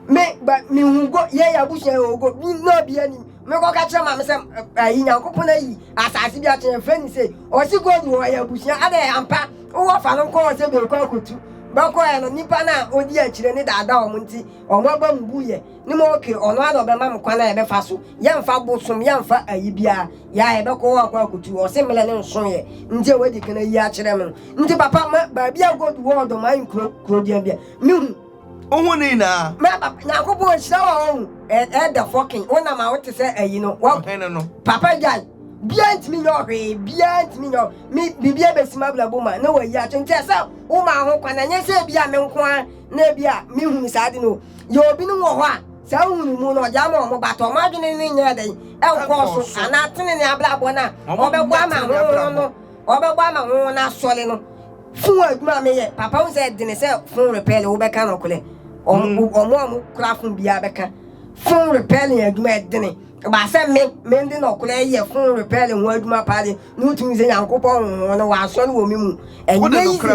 Me, ba, mehu go, yɛ yɛ abusua yɛ ogo, bi na obi anim. Mekɔka kyerɛ maame sɛ, ɛyi Nyankopɔn ayi asase bi akyerɛ, yɛfrɛ ne sei. Ɔse gold wɔ yɛ abusua, adɛ ampa. Wɔfa no kɔɔ sɛ berekɔ akotu. Bɛkɔeɛ no, nipa no a ɔdi akyire no daadaa wɔn nti, wɔn abam buiɛ. Ne ma ok, ɔno ara na ɔbɛma me kwan a yɛbɛfa so. Yɛmfa bosom, yɛmfa ayi biara. Yɛ a yɛbɛkɔ hɔ akɔ akotu. Ɔse mmerɛ no nsoeɛ nti a wadi kan ayi akyerɛ me no nti, papa, ma baabi a nkɔdu wɔ ɔdɔm ankuro, kuroduan biara, mehu. Wo ho ne nyinaa. Mɛ papa nyankopɔn nhyira wɔ ho mu ɛɛ the fucking wo nam a wo te sɛ ayi no wɔ ɔhene no papa gyae bia ntimi nyɛ ɔhwee bia ntimi nyɛ me bibia bɛsi mabrabo ma na wayi ato nti ɛsɛ wo ma ho kwan ɛnyɛ sɛ bia me nko a na bia me hunu saa de no yɛ obi no wɔ hɔ a saa hunu mu no ɔde ama ɔmo ba tɔ ɔmo adwene ne nyɛ dɛn ɛnkɔɔ so anaa tenene abrabɔ no a ɔbɛbɔ ama ho no Ɔbɛbɔ ama wo na asɔre no fon adwuma a meyɛ papa wo sɛ ɛdene sɛ fon repairing wo bɛka nɔkore ɔmo ɔmo a mo kura fon biara bɛka fon repairing adwuma ɛdene baasɛ me me de nɔkore yɛ fon repairing ho adwuma paa de na wotumi sɛ nyankopɔn honhom no wɔ asɔre wɔ me mu ɛnyɛ yize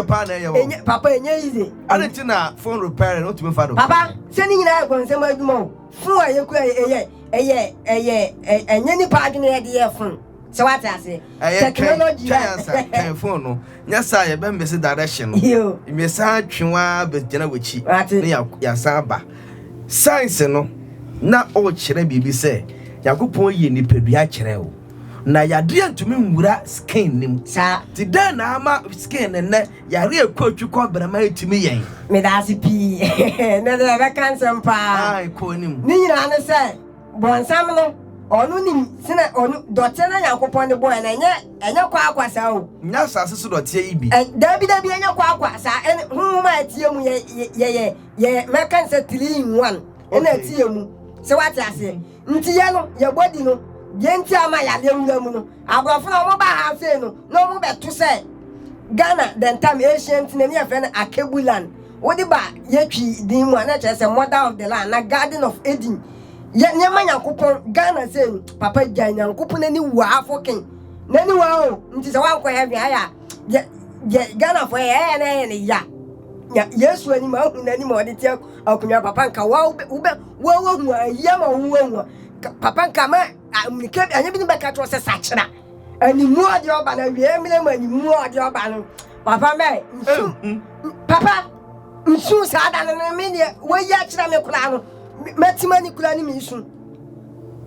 ɛnyɛ papa ɛnyɛ yize ɛne ti na fon repairing no tumi fa do papa sɛ ne nyinaa ɛkɔ nsɛm adwuma o fon a yɛkura ɛyɛ ɛyɛ ɛyɛ ɛnyɛ nipa adwene yɛde yɛ fon. So wate ase? Ɛyɛ Technology twɛn a. twɛn ansa twɛn phone no nyɛ saa yɛbɛ mese direction no Yo, mmesa atwe wa bɛgyina w'akyi wate. ne ya- yɛasan aba science no na ɔrekyerɛ biribi sɛ nyankopɔn yɛ nipadua kyerɛ o na yadeɛ ntumi nwura skin no mu Saa. nti dɛn na ama skin no nnɛ yare ɛkɔ atwi kɔ brɛma ɛtumi yɛn Meda ase pii. Ɛnɛ deɛ yɛbɛka nsɛm paa. Ae, kɔ anim. Ne nyinaa ne sɛ, Bɔnsam no, ɔno nim sɛnea ɔno dɔteɛ na Nyankopɔn de bɔɛ no, ɛnyɛ, ɛnyɛ kwakwa saa o. Nyɛ asase so dɔteɛ yi bi. Ɛn, dabi, dabi, ɛnyɛ kwakwa saa, ɛne honhom a ɛteɛ mu, yɛ, yɛ, yɛyɛ, yɛyɛ, mɛka no sɛ trillion one na ɛteɛ mu, sɛ woate aseɛ. Nti yɛ no, yɛ body no, deɛ nti a ama yadeɛ wura mu no, aborɔfo no a wɔba ha afei no, na wɔbɛto sɛ Ghana, the time, ancient, na ne yɛfrɛ no Akebuland, Wode ba yɛ Twi din mu a na kyerɛ sɛ mother of the land na garden of Eden yɛ nneɛma Nyankopɔn Ghana sei no papa gyae Nyankopɔn ani wu afo ken nani wa o nti sɛ wankɔ heaven ayɛ a deɛ deɛ Ghana fo yɛ ɛyɛ na ɛyɛ ne ya nya Yesu anim ahu n'anim a ɔde te akonwa papa nka wa wobɛ wobɛ wa wahu ayia ma wo wahu papa nka ma amunike anyɛ bi ne bɛka kyerɛ sɛ sakyera Animu ɔde ɔba na wie mmerɛ mu animu ɔde ɔba no papa mɛ nsu papa nsu saa da no no me deɛ wɔyi akyerɛ me koraa no mɛtema ne kura ne me nsu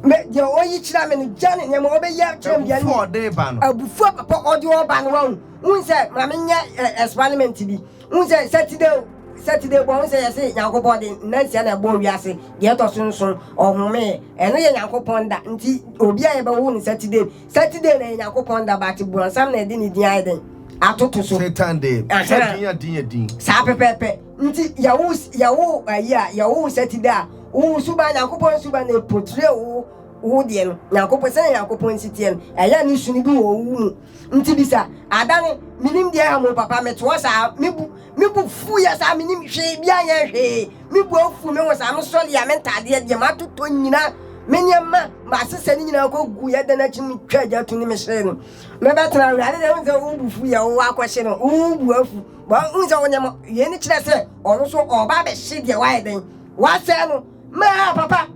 mɛ deɛ ɔyi kyerɛ me no gya ne nneɛma ɔbɛyi akyerɛ me deɛ no abufuo papa ɔde ɔba no wɔn n sɛ ma menyɛ experiment bi Wohu sɛ Saturday o, Saturday bɔ, wohu sɛ yɛse Nyankopɔn de nna nsia na ɛbɔɔ wiase, deɛ ɛtɔ so nson ɔhomeeɛ, ɛno yɛ Nyankopɔn da, nti obi a yɛbɛwo no Saturday, Saturday na ɛyɛ Nyankopɔn da but borɔnsam na ɛde ne din ayɛ dɛn? Atoto so. Satan de, sɛ din a din yɛ din. Saa pɛpɛɛpɛ, nti yɛwo, yɛwo ayi a, yɛwo wo Saturday a, wo suban, Nyankopɔn suban na ɛportray wo, wo deɛ no, Nyankopɔn, sɛdeɛ Nyankopɔn nsi teɛ no, ɛyɛ a ne su no bi wɔ wo mu. Nti bisa. Adane, Menim deɛ ɛha mo papa, metoɔ saa, me bu, me bo fuiɛ saa, menim hwee biaa nyɛɛ hwee, me bo afu, me ho saa, me sɔreɛ a, me ntaadeɛ, deɛ matotɔ nyinaa, me nneɛma, masesɛ no nyinaa kɔ guiɛ, dɛn akyi no me twaa gya to no me hyee no, me bɛ tena awurade deɛ, wohu sɛ wo bo fuiɛ, wo akɔ hye no, wo bo afu, wohu sɛ wo nneɛma, wei no kyerɛ sɛ ɔno nso ɔɔba abɛhye deɛ wayɛ dɛn, wasɛe no. Maa papa.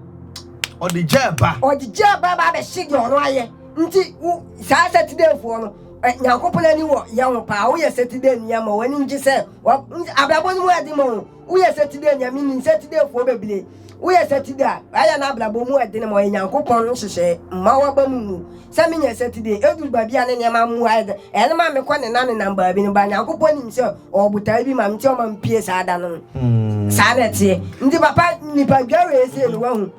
Ɔde gyaa ba. Ɔde gyaa ba ba abɛhye deɛ ɔno ayɛ. Nti wo saa sɛtidɛfoɔ no ɛ Nyankopɔn ani wɔ yɛ ho paa. Woyɛ sɛtidɛ nua ma w'ani ngye sɛ wa abrabɔ no mu ɛden ma wo. Woyɛ sɛtidɛ nua me nim sɛtidɛfoɔ bebree. Woyɛ sɛtidɛ a wayɛ n'abrabɔ mu ɛden ma ɔyɛ Nyankopɔn nhyehyɛɛ mma w'aba mu ngu. sɛ menya nsatidee, eduru baabi a ne nneɛma mmu ayɛ dɛ, ɛyɛ no ma mekɔ nenanenam baabi no. Ba, Nyankopɔn nim sɛ ɔwɔ botae bi ma me nti ɔma mepue saa da no no. Saa na ɛteɛ. Nti papa, nnipa dwa wei sei no, wahu,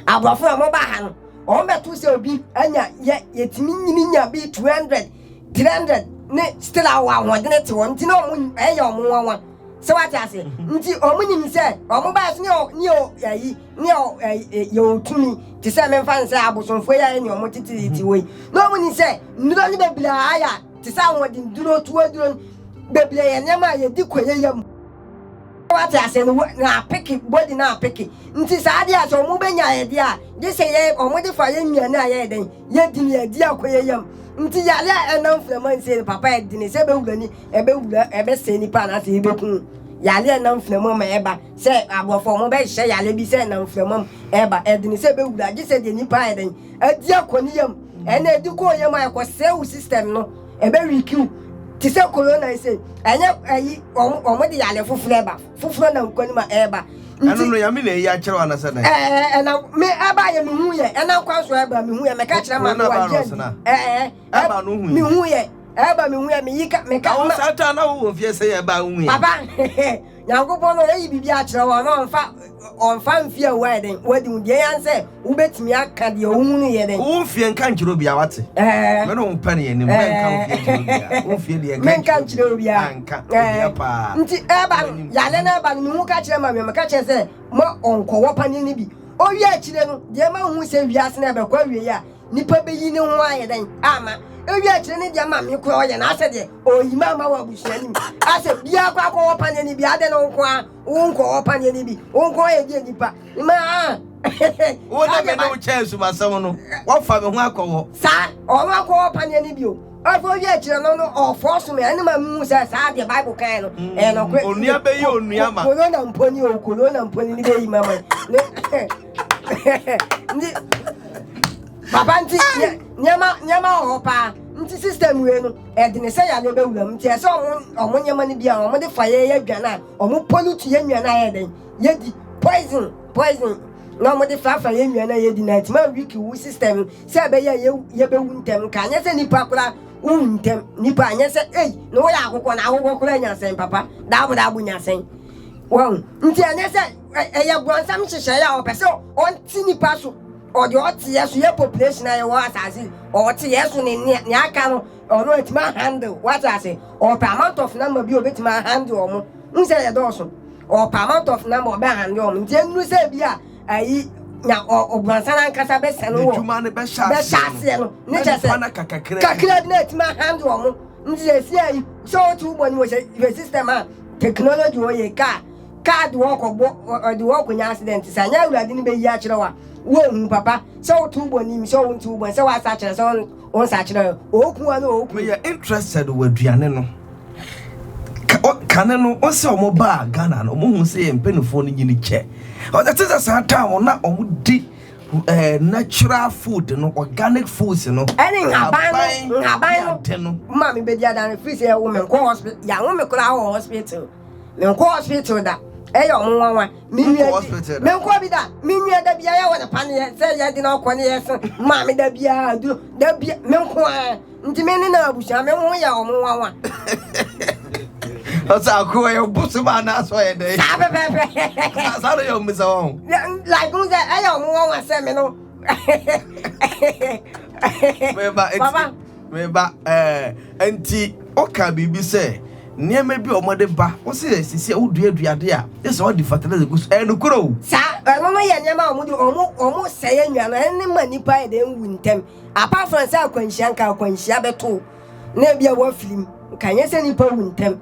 aborɔfo a wɔba ha no, wɔn bɛto sɛ obi anya, yɛ, yɛtumi nyini nya bi 200, 300, ne still a wɔn ahoɔdene te wɔn nti na wɔn, ɛyɛ wɔn nwanwa. Sɛ wate ase? Nti wɔn nim sɛ wɔn baa so ne yɛ ne yɛ ayi ne yɛ ɛyi yɛ otumi te sɛ mɛmfa nsɛ abosomfoɔ yɛ ne wɔn titiri ti wɔ yi na wɔn nim sɛ nnuro no bebree a ayɛ te sɛ ahoɔden duro tuo duro no bebree yɛ nneɛma a yɛdi kɔ yɛ yam wate ase no na apeke body na apeke nti saa adeɛ a sɛ wɔn bɛnya yɛ deɛ a gye sɛ yɛ wɔn de fa yɛ nnuane a yɛyɛ dɛn yɛdi ne yɛdi akɔ yɛ yam nti yare a ɛnam firamansie no papa ɛdene sɛ bɛwura ni ɛbɛwura, ɛbɛsɛe nipa anaasɛ ɛbɛku yale a ɛnam mframa mu ɛba. Sɛ aborɔfo wɔn bɛhyehyɛ yale bi sɛ ɛnam mframa mu ɛba, ɛdene sɛ ɛbɛwura gye sɛ deɛ nipa ayɛ dɛn adi akɔ ne yam. Ɛna ɛdi kɔ yam a ɛkɔsɛe wo system no, ɛbɛwiki wo. Te sɛ corona yi sei, ɛnyɛ ayi wɔn wɔn de yale foforɔ ɛba, foforɔ nam kwan mu a ɛba. Ɛno no Nyame na ayi akyerɛ wo anasɛ dɛn? Ɛɛ ɛnam me ɛbaeɛ mehuiɛ, ɛnam kwan so ɛba mehuiɛ, mɛka akyerɛ ma me wɔ adeɛ adi ɛɛ. Ɛba no hui. Mehu yɛ. Ɛba mehu yɛ meyi ka meka. Na wo saa ta na wo wɔ fie sɛ yɛ ɛba wo hu yɛ. Papa Nyankopɔn no ayi biribi akyerɛ wo ana ɔnfa ɔnfa mfie a wo ayɛ dɛn wadi ho deɛ yan sɛ wobɛtumi aka deɛ wo hunu yɛ dɛn. Wo mfie nka nkyerɛ obia wate. Ɛɛ. Me ne wo pɛ ne yɛ nim bɛ nka wo fie nkyerɛ obia wo mfie deɛ nka nkyerɛ obia. Me nka nkyerɛ obia. Anka obia paa. Nti ɛba no yale no ɛba no mehu ka kyerɛ ma me meka kyerɛ sɛ ma ɔnkɔ wɔ paneɛ no bi owie akyire no deɛ ma hu sɛ wiase no ɛbɛkɔ awie a. Nipa bɛyi ne ho ayɛ dɛn ama ewi akyerɛ ne deɛ ma me koraa ɔyɛ na asɛ deɛ ɔyi ma ama wɔ abusua no mu asɛ biara kɔ akɔwɔ paneɛ no bi adɛ no nko a wo nkɔwɔ paneɛ no bi wo nko ayɛ deɛ nipa ma a wo na me ne wo kyɛ asumasɛm no wɔfa me ho akɔwɔ saa ɔma akɔwɔ paneɛ no bi o afei owi akyerɛ no no ɔfɔ so me ɛne ma mu sɛ saa deɛ bible kan no ɛyɛ nɔkorɛ onua bɛyi onua ma korona mponi o korona mponi ne bɛyi ma ma ne nti papa nti nneɛma nneɛma wɔ hɔ paa nti system wei no ɛdene sɛ yadeɛ bɛwura mu nti ɛsɛ ɔmo ɔmo nneɛma no bi a ɔmo de fa yɛyɛ aduane a ɔmo pollute yɛ nnuane a yɛ dɛn yɛdi poison poison na ɔmo de fafa yɛ nnuane a yɛdi na ɛtuma weak wu system sɛ ɛbɛyɛ a yɛbɛwu ntɛm nka anyɛ sɛ nipa koraa wowu ntɛm nipa anyɛ sɛ ei na woyɛ akokɔ na akokɔ koraa nya sɛn papa daabo daabo nya sɛn wɔn nti anyɛ sɛ Ɛyɛ brɔnsam nhyehyɛeɛ a ɔpɛ sɛ ɔnte nnipa so. Ɔde ɔteɛ so yɛ population a yɛwɔ asase ɔteɛ so ne nea nea aka no ɔno atumi ahandle wate ase. Ɔpɛ amount of number bi a obetumi ahandle wɔn. N sɛ yɛ dɔɔso. Ɔpɛ amount of number ɔbɛ handle wɔn. Nti enuru sɛ ebi a ayi nya ɔbrɔnsam ankasa bɛsɛ no wɔ bɛhyɛ aseɛ no ne kyɛ sɛ kakra bi na atumi ahandle wɔn. Nti sɛ esia yi sɛ ɔte wo bɔ ne mu sɛ yɛ system a technology wɔ yɛ kaa Kaa de wo rekɔbɔ, ɔde wo rekɔnya accident, sɛ anyɛ Awurade no bɛyi akyerɛ wo a, wonhu, papa, sɛ woto wo bɔ no nim, sɛ wonto wo bɔ no, sɛ woasa akyerɛ, sɛ wonsa akyerɛ, ɔɔku wo anaa ɔɔku wo. Meyɛ interested wɔ aduane no. Kane no ɔsɛ ɔmo baa Ghana no ɔmo hu sɛ yɛ mpanyinfoɔ no nyini kyɛ ɔsɛ te sɛ saa taa mo na ɔmo di eh, natural food no organic foods no ɛne nhaban no nhaban no maame bɛdi adane firi sɛ yɛwo me nkɔ hospital yɛawo me koraa wɔ hospital Menkɔ hospital da, ɛyɛ ɔmo nwanwa. Me nua gye, menkɔ bi da. Me nua da bia yɛwɔ ne paneɛ sɛ yɛde no akɔ ne yɛse maame da bia aduro da bia menko a nti me ne na abusua me ho yɛ ɔmo nwanwa. Ɔsɛ ako ɛyɛ bosom anaasɛ ɔyɛ dɛ. Saa pɛpɛpɛ. Saa no yɛ ɔmo sɛ wɔn. Like n sɛ ɛyɛ ɔmo wɔn asɛ me no. Bɛba nti. Papa Me ba, ɛɛ, enti wokaa biribi sɛ nneɛma bi a wɔde ba, wo se sisi a woduadua ade a, gye sɛ wɔde fertilizer gu so. Ɛyɛ nokorɛ o. Saa, ɛno no yɛ nneɛma a wɔde, wɔn, wɔsɛe anwia no, ɛno no ma nnipa yɛ dɛn wu ntɛm. Apart from sɛ akwanhyia, nka akwanhyia bɛto wo, na ebia woafirim, nka ɛnyɛ sɛ nnipa wu ntɛm.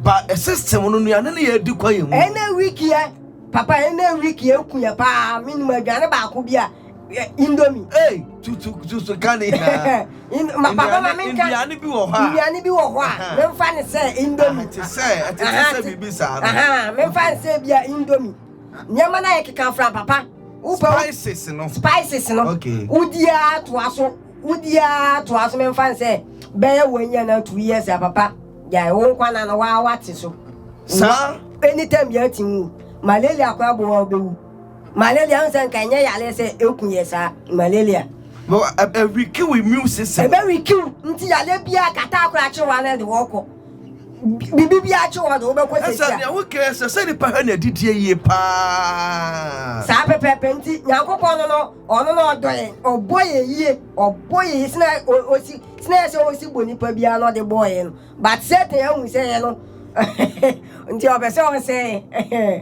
Ba, system no, nnuane no yɛ adi kɔ yɛn mu. Ɛnnɛ week yɛ, papa, ɛnnɛ week yɛ aku yɛn paa, mennim aduane baako bi a. indomie ee tutu tutu ka ne nyinaa papa ma menka nnuane bi wɔ hɔ a nnuane bi wɔ hɔ a memfa ne sɛ indomie te sɛ ɛte sɛ biribi saa no memfa ne sɛ bia indomie nneɛma no a yɛkeka fra papa wopɛ spices no spices no wodiaa toa so wodiaa toa so memfa ne sɛ bɛyɛ wɔnyɛ no two years a papa gyae wo nkwa na no waa wate so saa anytime yɛatim wo malaria koraa bɔ wa wobɛwu Malaria n sɛ nka ɛnyɛ yareɛ sɛ ɛku yɛ saa malaria. No ɛwikiw immune system. Ɛbɛwikiw nti yareɛ biara kata akora akye wa na de wɔkɔ. Bibi bi akye wɔ de wobɛkɔ sɛ tia. Ɛsɛ nea wokɛ sɛ sɛ nipa hwɛ na adidie yie paa. Saa pɛpɛpɛ nti Nyankopɔn no no ɔno na ɔdɔ yɛn ɔbɔ yɛn yie ɔbɔ yɛn yie sena osi sena yɛ sɛ osi bɔ nipa biara na ɔde bɔɔ yɛn no But Satan ahu sɛ yɛ no nti ɔpɛ sɛ ɔsɛe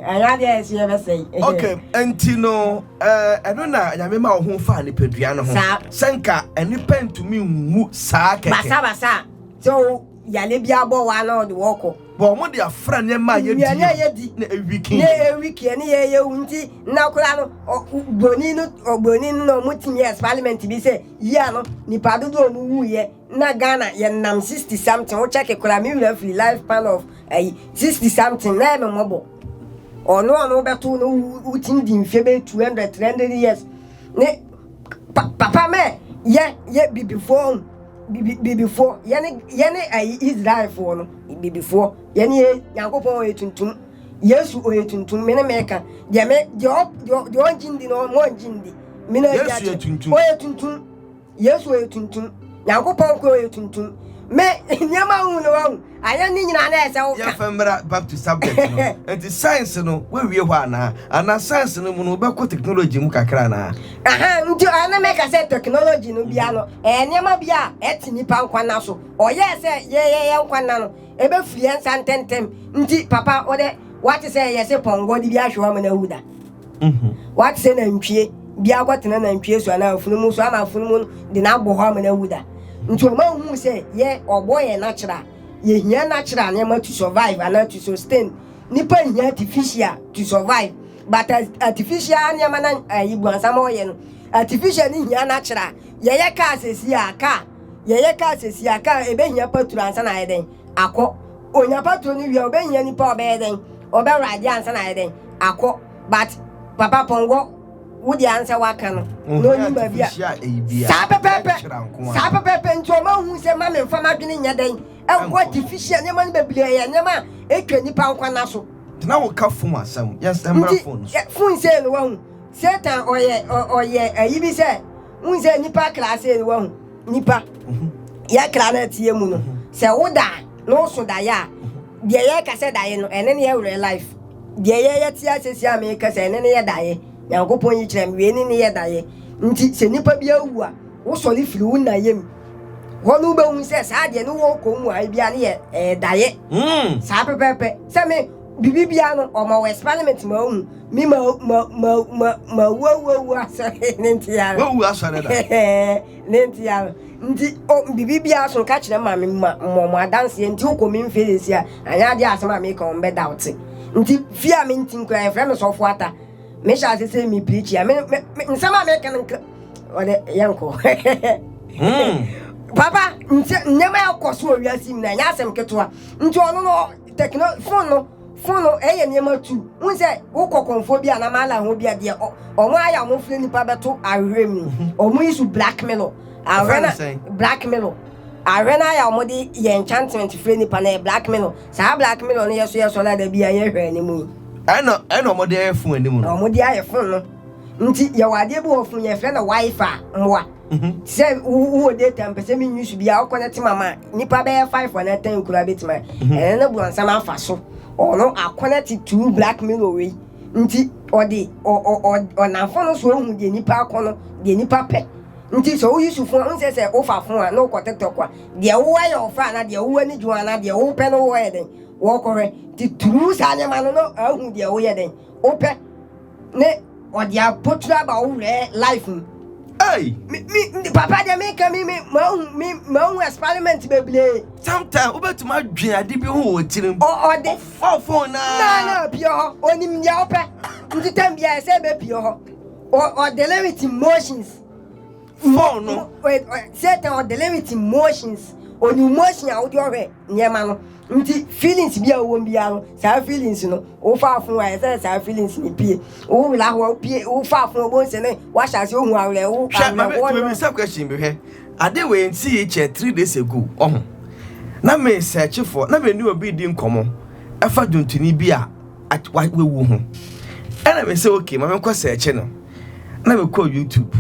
ɛnyɛ adeɛ a ɛsɛ yɛbɛsɛe. ok nti no ɛno na nyame ma wo ho faa nipadua no ho sɛ nka nnipa ntumi nwu saa kɛkɛ basabasa sɛ wo yale bi abɔ wa na ɔde wɔkɔ bɔ ɔmo de afra nneɛma a yɛdi na ewiki na ewiki ɛne yɛ yɛ wu nti na koraa no broni no broni no na ɔmo tumi experiment bi sɛ yia no nipa dodo ɔmo wu yɛ na Ghana yɛ nam sixty something wo check koraa me wura firi life pan of ayi sixty something na ɛmɛ mɔbɔ ɔno ɔno wobɛto no wotim di mfe bɛ two hundred three hundred years ne papa mɛ yɛ yɛ bibifoɔ bibifoɔ yɛne yɛne ayi Israelfoɔ no bibifoɔ yɛne yɛ Nyankopɔn ɔyɛ tuntum Yesu ɔyɛ tuntum me ne mɛka deɛ me deɛ ɔngye ndi na ɔmo ɔngye ndi me na yɛ tuntum ɔyɛ tuntum Yesu ɔyɛ tuntum. Nyankopɔn nkoa ɔyɛ tuntum. Me nneɛma hu na wahu. Ayɛ ne nyinaa na ɛsɛ wo ka. Yɛmfa mmra back to subject no. Nti science no woawie hɔ anaa? Anaa science no mu no wobɛkɔ technology mu kakra anaa? Ahaa nti ɔyɛ na meka sɛ technology no bia no ɛyɛ nneɛma bi a ɛte nipa nkwa nna so. Ɔyɛɛ sɛ yɛyɛ yɛn nkwa nna no ɛbɛfiri yɛn nsa ntɛntɛm. Nti papa wodɛ woate sɛ yɛse pɔn God biaa hwɛ wo ama no awu da. Mhm. Wate sɛ nantwie bi akɔtena nantwie so anaa afunumu so ama afunumu de no abɔ hɔ ama no awu da. Nti ɔma hu sɛ yɛ ɔbɔ yɛ natural. Yɛhia natural nneɛma to survive anaa to sustain. Nipa nhia artificial to survive. But artificial nneɛma na ayi eh, buansama ɔyɛ no. Artificial ni hia natural. Yɛyɛ kaa sɛsi a kaa. Yɛyɛ kaa sɛsi a kaa ɛbɛhia paturo ansa na ayɛ dɛn akɔ. Onya patrol no wie a obehia nipa a ɔbɛyɛ dɛn? Ɔbɛ ride ansa na ayɛ dɛn? Akɔ. But papa pɔnkɔ wo deɛ ansɛ waka no na onim baabi a Saa pɛpɛɛpɛ! Saa pɛpɛɛpɛ! Nti ɔma hu sɛ mma me nfa m'adwene nyɛ dɛn? Nkɔ artificial nneɛma no bebree ɛyɛ nneɛma a etwa nnipa nkwa nna so. Tena wo ka phone asɛm yɛnsɛ mmra phone so. Nti phone sei no wahu Satan ɔyɛ ɔyɛ ayi bi sɛ Wohu sɛ nnipa kra sei no wahu nnipa yɛ kra no ateɛ mu no sɛ wo da a na woso daeɛ a deɛ yɛka sɛ daeɛ no ɛne ne yɛ werɛ life deɛ yɛyɛ te asɛsi a meka sɛ ɛne ne yɛ daeɛ nyankopɔn yi kyerɛ me wei ne ne yɛ daeɛ nti sɛ nnipa bi awu a wosɔre firi wo na yɛ mu hɔ no wobɛhu sɛ saa deɛ ne wɔkɔ mu a ebia ne yɛ ɛyɛ daeɛ saa pɛpɛpɛ sɛ me Biribi biara no, ɔma wo experiment ma ohu. Me ma ma ma ma ma wu awu awu asɔre ne nti ara. Wawu asɔre da. ne nti ara. Nti o biribi biara so ka kyerɛ ma me ma mmɔ mo adanseɛ nti wokɔ me mfie sɛsi a anyɛ adeɛ asɛm a meka wɔn bɛda wo te. Nti fie a menti nkura yɛfrɛ me sɔfo ata. Mehyɛ ase sɛ me preach a me me me nsɛm a meka no nka ɔde yɛnkɔ. Hmm. Papa nti nneɛma a ɛkɔ so wɔ wiase mu no ɛnyɛ asɛm ketewa. Nti ɔno no Tɛkno phone no phone no ɛyɛ nneɛma tu wohu sɛ wokɔ kɔnfoɔ bi a na mala ho bi a deɛ ɔmo ayɛ a ɔmo frɛ nipa bɛto ahwehwɛ mu ɔmo mhm. yi so blackmail ahwɛ na blackmail ahwɛ na ayɛ a ɔmo de yɛ enchantment frɛ nipa na yɛ blackmail saa blackmail no yɛ so yɛ so na da bi a yɛ hwɛ anim yi ɛna ɛna ɔmo de ayɛ fon anim no ɔmo de ayɛ fon no nti yɛwɔ adeɛ bi wɔ fon yɛfrɛ no wifi mmoa Mhm. sɛ wo- wowɔ data mpɛ sɛ menyi so bia wokɔ no tema ma nnipa bɛyɛ 5 anaa 10 koraa bɛtumi ayɛ Mhm. ɛno no borɔnsam afa so ɔno akɔnɔ te tuu black mirror wei nti ɔde ɔ- ɔ- ɔ- ɔnamfo no so ɔhu deɛ nnipa akɔ no deɛ nnipa pɛ nti sɛ woyi so fo a wonsɛ sɛ wofa fo a na wokɔ tiktok a deɛ wowɔ yɛ ɔfa anaa deɛ wowɔ ani gye ho anaa deɛ wopɛ no wɔyɛ dɛn wɔkɔhwɛ nti turu saa nneɛma no na ahu deɛ woyɛ dɛn wopɛ Ne ɔde abotire aba wo werɛ life mu. Hey. Me me ndi papa deɛ mi ka mi mi ma ohun mi ma ohun experiment bebree. Sometimes wobɛtumi adwene ade bi ho wɔ tirim. Ɔ ɔde. Ɔfa phone naa. Naa na pie hɔ onim deɛ ɔpɛ nti tɛm bi a ɛsɛ ebe pie hɔ ɔ ɔdele with emotions. Phone no. Satan ɔdele with emotions onim emotion a wode ɔhwɛ. nneɛma no nti feelings bi a wɔwɔ biara no saa feelings no wofa afo a ɛsɛ sɛ saa feelings no pie wo wura ho a wopie wofa afo a wɔn sɛ ne wahyɛ ase ohu awerɛ wo awerɛhoɔ no. hwɛ question bi hwɛ ade wei nti yi kyɛ three days ago ɔho na me sɛkye fo na me ne obi di nkɔmɔ ɛfa dwontoni bi a wawu ho ɛna me sɛ okay ma me nkɔ sɛkye no na me kɔ youtube.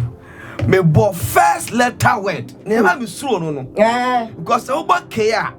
mebɔ first letter word na ɛma me suro no no eh. because sɛ wobɔ kee a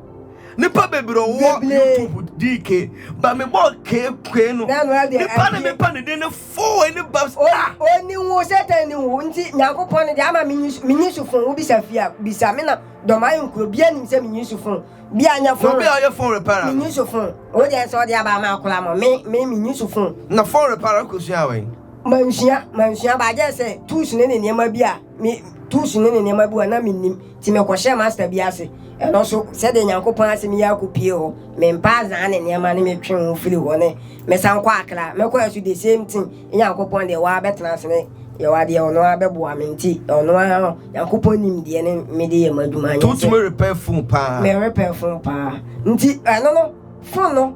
nipa bebree wɔ youtube dike ba mi bɔ keke no nipa ne mi pa ne den ne fo ne ba sa. o ni wo sẹtẹ ni wo nti nyanko pọn ne de ama mi nyi su fun wo bisa fia bisa mi na dɔm ayɛ nkuro bia nim sɛ mi nyi su fun bi a nya fun. obi a ɔyɛ fun repara. mi nyi su fun o de ɛsɛ ɔde aba ama akora mo mi mi mi nyi su fun. na fun repara kò sua awɛ. Mansua, mansua baa gyɛ sɛ tools ne ne nneɛma bi a me tools ne ne nneɛma bi a na mennim nti mekɔhyɛɛ master bi ase. Ɛno nso sɛdeɛ Nyankopɔn asɛm yi akɔpue hɔ, mempaa Azaan ne nneɛma ne metwee ho firi hɔ ne mesan kɔɔ Accra. Mekɔɛ nso the same thing, Nyankopɔn deɛ waa bɛtena ase ne yɛwa deɛ ɔno ara bɛboa me nti ɔno ara Nyankopɔn nim deɛ ne mede yɛ m'adwuma nyɛ sɛ. Wotumi repair phone paa? Me repair phone paa nti ɛno no phone no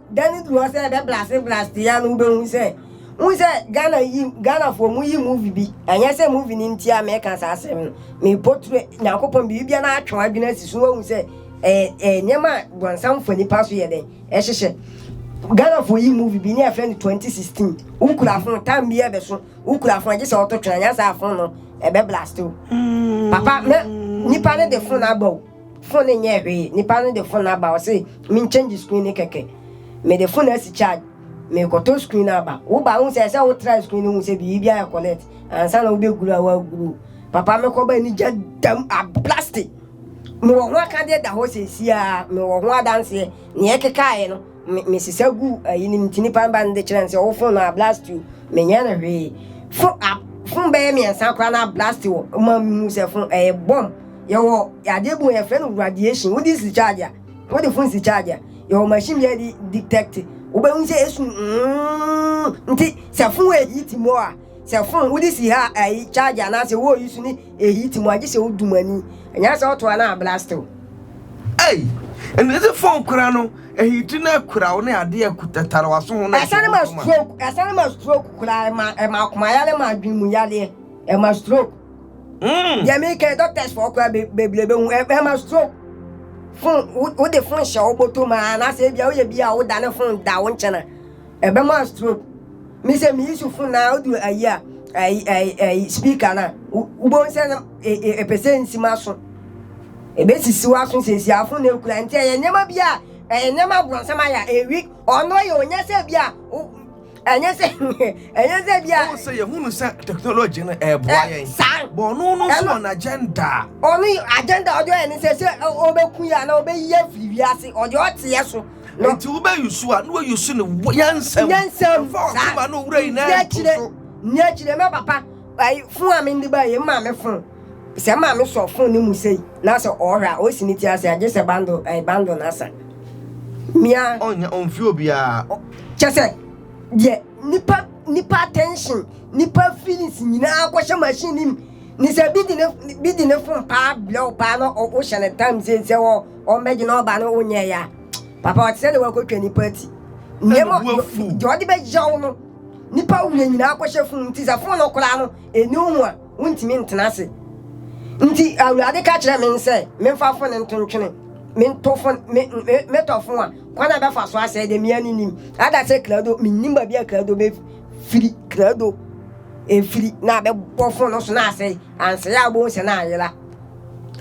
Da no du hɔ sɛ ɛbɛ blase blast yi a no wobɛhu sɛ wohu sɛ Ghana yi Ghanafoɔ mo yi movie bi ɛnyɛ sɛ movie no nti a meka saa asɛm no me potre Nyankopɔn biribi bia na atwe adwene asi so wahu sɛ ɛyɛ ɛyɛ nneɛma a bɔnsam fa nipa so yɛ dɛn ɛhyehyɛ Ghanafoɔ yi movie bi ne ɛfrɛ no 2016 wokura fon tam bi ɛbɛso wokura fon gye sɛ wɔto twena nyɛ saa fon no ɛbɛ blast o papa mɛ nipa no de fon aba o Phone no nyɛɛ hwee, nipa no de phone no aba ɔse men change screen no kɛkɛ, mede phone no asi charge, mekɔtɔ screen no aba, wo ba wohu sɛ ɛsɛ wo try screen no hu sɛ biribi ayɛ connect ansa na wobɛguru a woaguru, papa mekɔ ba anigya dam ablaste, mewɔ ho akadeɛ da hɔ seesei aa, mewɔ ho adanseɛ, neɛ ɛkekaaɛ no. Me me sisa gu ayi no mu nti nipa no ba no de kyerɛ no sɛ wo fon no ablast o menyɛ no hwee fon a fon bɛyɛ mmiɛnsa koraa no ablast wɔ ma mu sɛ fon ɛyɛ bɔm yɛwɔ adeɛ bu yɛfrɛ no radiation wode si charge a wode fon si charge a yɛwɔ machine bi a de detect wobɛhu sɛ ɛsu nti sɛ fon ɛyi ti mu a Sɛ fon wode si ha a ɛyi charge anaasɛ woyi so ne ɛheat mu a gye sɛ wodu mu ani. Ɛnyɛ sɛ woto a na ablast wo. Ei! Ɛnde sɛ fon kora no ɛheat na ɛkora wo ne adeɛ a tatare w'aso ho na ɛhyɛ wo nso ma. Ɛsane ma stroke koraa, ɛma ɛma akomayare, ɛma adwene mu yareɛ, ɛma stroke. Deɛ meka yi doctors foɔ koraa bebree bɛhu, ɛma stroke. Fon, wode fon hyɛ wo bɔtɔ mu a anaasɛ ebia woyɛ bi a wodane fon da wo nkyɛn a, Ɛbɛma wo stroke. Me sɛ me use phone na odu ayi a ayi ayi ayi speaker na wobɛhu sɛ na ɛpɛ sɛ nsi m'aso. Ɛbɛsisi w'aso sɛsi a phone na ɛkura nti ɛyɛ nneɛma bi a ɛyɛ nneɛma abrɔnsam ayɛ a ɛwik ɔno yɛ ɔnyɛ sɛ bi a ɛnyɛ sɛ ɛnyɛ sɛ bi a. Ɔwɔ sɛ yɛhunu sɛ technology no ɛreboa yɛn. Saa. Bɔ ɔno no nso wɔ n'agenda. Ɔno agenda ɔde ɔyɛ ne sɛ sɛ ɔbɛku yɛ anaa ɔbɛyi yɛ afiri wiase ɔde ɔteɛ so. No. Nti wobɛyi su a, na wɔyi su no nyansam. Nyansam. Mfa ɔsom a na owura yi na ɛto so. Ni akyire mɛ papa ayi fun a mende ba yɛ maame fun sɛ maame sɔ fun ne mu sei na sɛ ɔhwɛ a ɔsi ne ti ase agye sɛ bando ayi bando na asa mia ɔnya ɔmfi obiara kyɛ sɛ deɛ nipa nipa attention nipa feelings nyinaa akɔhyɛ machine nim ne sɛ bi di ne bi di ne fun paa blɛw paa na ɔhyɛ ne time sɛ sɛ wɔ Wɔn bɛ gyina ɔba no onyɛ ya. Papa ɔte sɛ ne wakɔtwa nipa ti. Nneɛma deɛ ɔde bɛyaw no nipa wura nyinaa akɔhyɛ funu nti sɛ funu no koraa no ɛni ho a wontumi ntena ase. Nti Awurade ka kyerɛ me sɛ memfa fo no nto ntwene. Mento fo me me metɔ fo a kwan a ɛbɛfa so asɛe deɛ mea ne nim. Ada sɛ krado mennim baabi a krado bɛfiri krado ɛfiri na abɛbɔ fo no so na asɛe. Ansɛe a wobɛhu sɛ na ayera.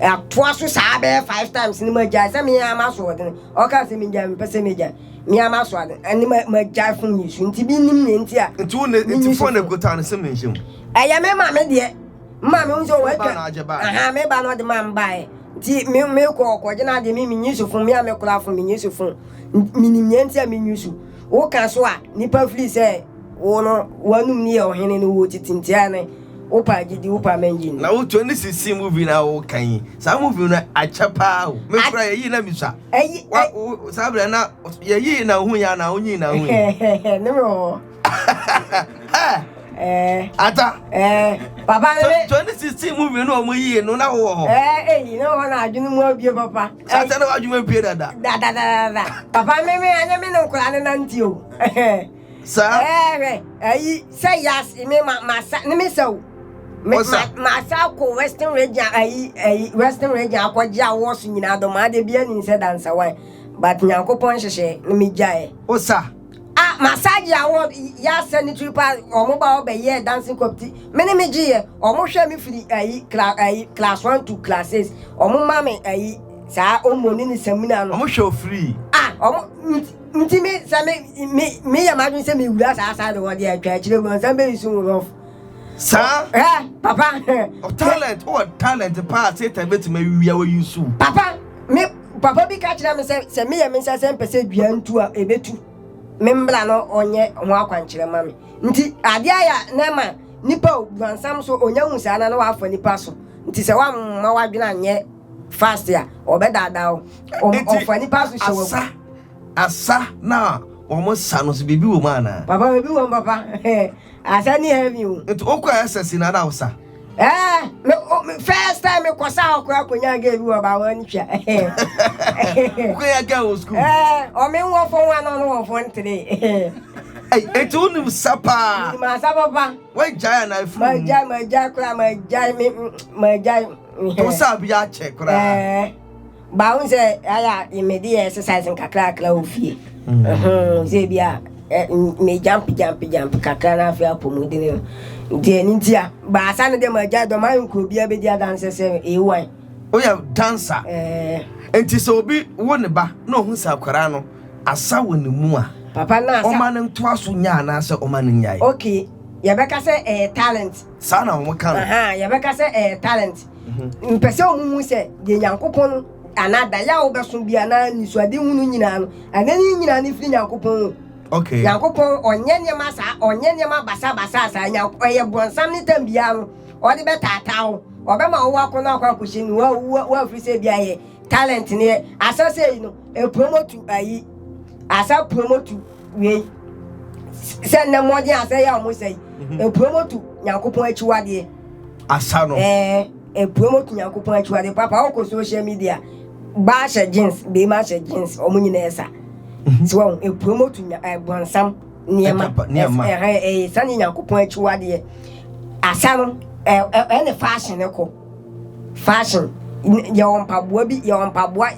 Atoa so saa bɛyɛ five times ne magyae sɛ me ara maso ɔde no. Ɔka sɛ megyae mepɛ sɛ megyae. Me ara maso ade ne ma magyae fom yi so nti bi nim ne nti a. Nti wo ne nti fo ne gota ne sɛ menhyɛ mu. Ɛyɛ me ma me deɛ. Ma me hu sɛ wɔatwa. Aha me ba na ɔde ma mbaeɛ. Nti me me kɔ ɔkɔ gyina adeɛ me menyi so fom me a me kora fom menyi so fom. Menim ne nti a menyi so. Woka so a nipa fili sɛ. Wo no, w'anom ni yɛ ɔhene no wo titi nti a ne wo paa gyidi wo paa mɛ ngyi ni. Na wo to ne sisi movie na wo ka yi saa movie no akyɛ paa o me kura yɛ yi na me sua wa wo saa bra na yɛ yi na ohun ya na onyi na ohun yɛ ne me ho Eh. Ata. Eh. Papa ne me. Twenty sixteen mu mi no ɔmo yie no na wowɔ hɔ. Ɛɛ eyi na wɔn adwene mu abie papa. Sase na wadwuma abie dada. Dadadada. Papa me me anya me ne nkora ne nante o. saa. Ɛɛ hwɛ, ayi, sɛ yas, me ma, ma sa, ne me sa o. Me, ma, ma sa kɔ western region, ayi, ayi, western region akɔ gye awɔ so nyinaa dɔ, ma de bia ni nsɛ dansawan. But nyankopɔn nhyehyɛ, ne me gyaɛ. O sa. A, ma sa gye awɔ, yas sɛ ne tiri pa, ɔmo ba hɔ bɛ yɛɛ dancing competi, me ne me gye yɛ, ɔmo hwɛ me firi, ayi, kla, ayi, class one to class six, ɔmo ma me, ayi, saa, ɔmo ne ne samina no. Ɔmo hwɛ o firi. A, ɔmo, nti. Nti me sɛ me me me yɛ m'adwene sɛ me wura saa saa de wɔ deɛ atwa akyire mu ansa bɛ nsu wolof. Saa. Hɛ papa. O talent o talent paa satan bɛ ti ma wia wɔ yi su. Papa me papa bi ka kyerɛ me sɛ sɛ me yɛ me nsa sɛ mpɛ sɛ dua ntu a ebe tu me mbla no ɔnyɛ ho akwankyerɛ ma me nti adeɛ ayɛ na ɛma nipa o buansam so onya hu saa na na wafa nipa so nti sɛ wamma wadwene anyɛ Fast a, wɔbɛdaadaa wo. Wɔn- Enti, wɔfa nnipa so hyɛ wɔn asa agu. asa na wɔn sa no so biribi wɔ mu anaa Papa, biribi wɔ mu, papa. Asa ni heavy o. nti wokɔ ss na ada wo sa Eh, me, o- me, first time mekɔ sa hɔ koraa kɔnya gɛ bi wɔ bawa no twa. wokɔyɛ gɛ wɔ sukuu Eh, ɔme wɔ fɔ ho ana ɔno wɔ fɔ ntere. Ei, enti wonim sa paa Nim asa papa. woagyae anaa afiri wo mu? Magyae, magyae koraa, magyae, me, mm, magyae. Ɔtɔ sɛ a bi akyɛ koraa. Ɛɛ baahu sɛ ayɛ a yɛmɛdi yɛ exercise nkakrakra wɔ fie. Mm. Sɛ bi a me jump jump jump kakra na afei apɔmuden no. Nti ɛno nti a baasa no deɛ magya dɔm ayɛ nkuro biara bɛdi adanse sɛ ewan. Woyɛ dansa. Ɛɛ. Nti sɛ obi wo ne ba na ɔhu sɛ akwaraa no asa wɔ ne mu a. Papa na asa. Ɔma no ntoa so nya anaasɛ ɔma no nyae. Okay yɛbɛka sɛ ɛyɛ talent. Saa na wɔn ka no. Aha, yɛbɛka sɛ ɛyɛ talent. Mepɛ sɛ wɔn hu sɛ deɛ Nyankopɔn anaa daeɛ a wobɛso bi anaa anisoadehunu nyinaa no, anani nyinaa no firi Nyankopɔn o. Okay. Nyankopɔn ɔnyɛ nneɛma saa, ɔnyɛ nneɛma basabasaa saa. Nyank ɛyɛ brɔnsam ne tam biara no ɔde bɛtaataa wo. Ɔbɛma wo wakɔ no akɔ akɔhyɛ ni wa wa wafiri sɛ bi ayɛ talent neɛ. Asa sei no ɛpromotu ayi, asa promotu. wiei sɛ nnɛ mmɔden asɛe a wɔsɛe mhm. epuromotu nyankopɔn akyiwadeɛ asa no ɛɛ epuromotu nyankopɔn akyiwadeɛ papa wokɔ social media baa hyɛ jeans beema hyɛ jeans wɔn nyinaa ɛsa mhm. so wɔn epuromotu ɛbɔnsam nneɛma ɛha ɛyɛ sani nyankopɔn akyiwadeɛ asa no ɛɛ ɛne fashion kɔ. Fashion yɛwɔ mpaboa bi yɛwɔ mpaboa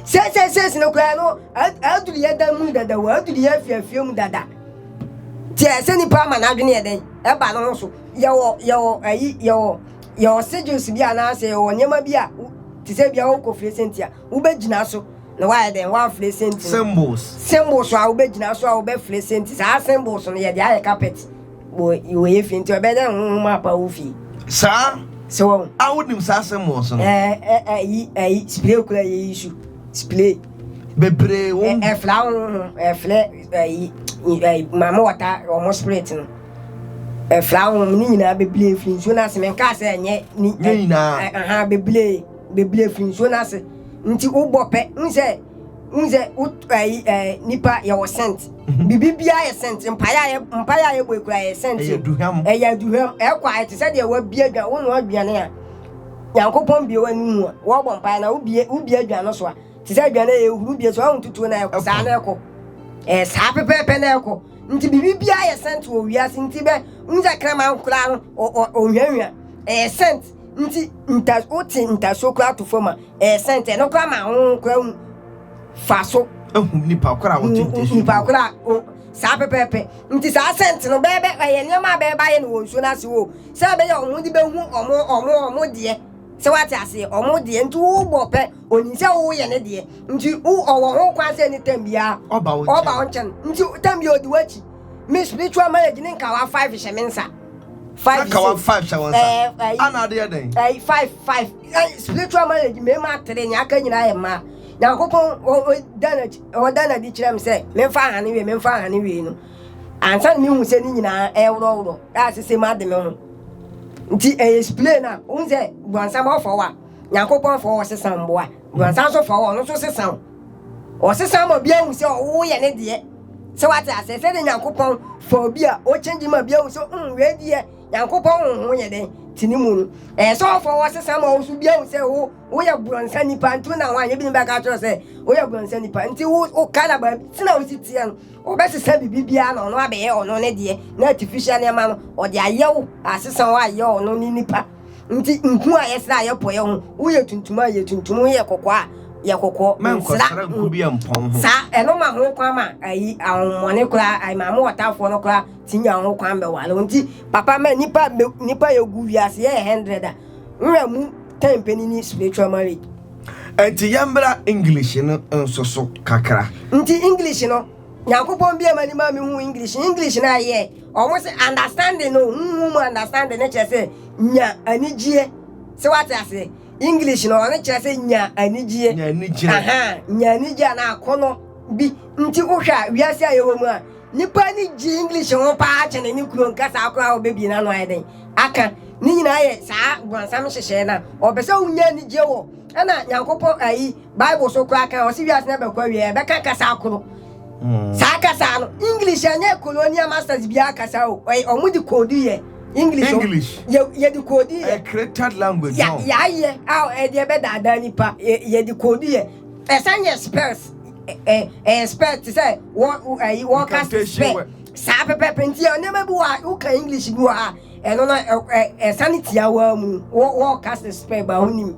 sɛsɛsɛs no koraa no aduru yɛ dan mu dada o aduru yɛ afiafia mu dada nti ɛsɛ nipa ama n'adwene yɛ dɛn ɛba no ho so yɛwɔ yɛwɔ ayi yɛwɔ yɛwɔ sigils bi anaasɛ yɛwɔ nneɛma bi a te sɛ bia wokɔ fire senti a wobɛgyina so na wayɛ dɛn wafire senti symbols symbols a wobɛgyina so a wobɛfire senti saa symbols no yɛde ayɛ carpet wɔyɛ fi nti ɔbɛyɛ dɛ honhom apa wo fi saa sɛ wɔn a wonim saa asɛm wɔ so no ɛyi ɛyi spray kura yɛ yi su spray bebree wɔn ɛfla honhom ɛflɛ ɛyi ɛyi maame wɔta wɔn spirit no ɛfla honhom ne nyinaa bebree firi nsuo no ase menka sɛ ɛnyɛ ne nyinaa aha bebree bebree firi nsuo no ase nti wobɔ pɛ n sɛ Wohu sɛ nipa yɛwɔ sɛnt. Mhm. Bibi biara yɛ sɛnt. Mpaeɛ a yɛbɔ ekura yɛ sɛnt. Ɛyɛ aduhwam. Ɛyɛ aduhwam. Ɛkɔ ayɛ te sɛ deɛ wabie adwan. Wonoa aduane a Nyankopɔn bie w'ani mu a wɔbɔ mpaeɛ na wobie wobie adwan no so a te sɛ aduane a yɛhuru bie so a wontutuo na ɛkɔ saa na ɛkɔ. Ɛɛ saa pɛpɛɛpɛ na ɛkɔ. Nti bibi biara yɛ sɛnt wɔ wiase nti bɛ wohu sɛ kraman koraa no ɔnhwɛnhwɛ ɛyɛ sɛnt. nti nta wote ntasuo koraa ato fam a ɛresɛn tɛ no koraa ma ho koraa hu fa so ehu nipa koraa wɔte ntasuo nipa koraa o saa pɛpɛɛpɛ nti saa sɛnte no bɛɛbɛ ɛyɛ nneɛma a bɛɛba yɛ no wɔ nsuo no ase o sɛ ɛbɛyɛ wɔn de bɛhu wɔn wɔn wɔn deɛ sɛ wate aseɛ wɔn deɛ nti wobɔ pɛ onim sɛ woyɛ ne deɛ nti wo ɔwɔ ho kwan sɛ ne tɛm biara ɔba wo nkyɛn nti tɛm biara ɔdi w'akyi me spiritual marriage ne nkawa five hyɛ me nsa five nkawa five hyɛ wɔn nsa ana adeɛ dɛn ɛyi five five ɛyi spiritual marriage mmarima atere nea aka nyinaa yɛ mmaa nyankopɔn ɔda na di kyerɛ me sɛ memfa ahane wie memfa ahane wie no ansa na mehu sɛ ne nyinaa ɛworɔworɔ a sɛ sɛ mu ade me ho nti ɛyɛ spray no a wohu sɛ guansama ɔfɔ wo a nyankopɔn fɔ wɔ sesa mboa guansa nso fɔ wɔ ɔno nso sesa wo Ɔsesa ma obi ahu sɛ ɔwo yɛ ne deɛ. Sɛ wate aseɛ sɛdeɛ Nyankopɔn fa obi a ɔkyɛngyi ma bi ahu sɛ mm wei deɛ Nyankopɔn honhom yɛ dɛn te ne mu no. Ɛyɛ sɛ ɔfa wo ɔsesa ma wo nso bi ahu sɛ wo woyɛ borɔnsa nipa nti wona hɔ anyɛ binom bɛka akyerɛ wo sɛ woyɛ borɔnsa nipa nti wo woka na baabi tena wosi teɛ no ɔbɛsesa biribi biara na ɔno abɛyɛ ɔno ne deɛ na artificial nneɛma no ɔde ayɛ wo asesa wo ayɛ ɔno ne nipa Nti nku a yɛsra a yɛpɔ yɛ ho wo yɛ tuntum a yɛ tuntum wo yɛ kɔkɔɔ a yɛ kɔkɔɔ nsra saa ɛno ma ho kwan ma ayi ahomɔne koraa ayi ma mo ɔtafoɔ no koraa ti nya ho kwan bɛwale wo nti papa ma nipa nipa yɛ gu wiase yɛ hundred a nwura mu ten panini spiritual marriage. Nti yɛmbra English no nso so kakra. Nti English no. Nyankopɔn bia m'ani ma me hu English English na yɛ ɔmo se understanding no huhu mu understanding ne kyerɛ sɛ nya anigyeɛ sɛ wate aseɛ English no ɔno kyerɛ sɛ nya anigyeɛ nya anigyeɛ aha nya anigyeɛ anaa akɔnɔ bi nti wohwɛ a wiase a yɛwɔ mu a nipa ni gye English ho paa kyɛne ne kuro nkasa akora ɔbɛbie n'ano ayɛ dɛn aka ne nyinaa yɛ saa bɔnsam nhyehyɛɛ na ɔpɛ sɛ wonya anigyeɛ wɔ ɛna Nyankopɔn ayi Bible so koraa ka, ɔse wiase no abɛkɔ awie a ɛbɛka kasa koro. Hmm. Saa kasa no, English ɛnyɛ colonial masters biara kasa o. Ɔyɛ ɔmo de koodi yɛ. English. English. Yɛ de koodi yɛ. A created language. Ya ya yɛ a ɛde ɛbɛ daadaa nipa. Yɛ de koodi yɛ. Ɛsan yɛ spells. Ɛɛ ɛyɛ spells te sɛ wɔ ɛyi wɔ cast spell. Saa pɛpɛpɛ nti yɛ nneɛma bi wɔ a woka English bi wɔ ha ɛno no ɛsan tia wɔ mu wɔ wɔ cast spell ba ho nim.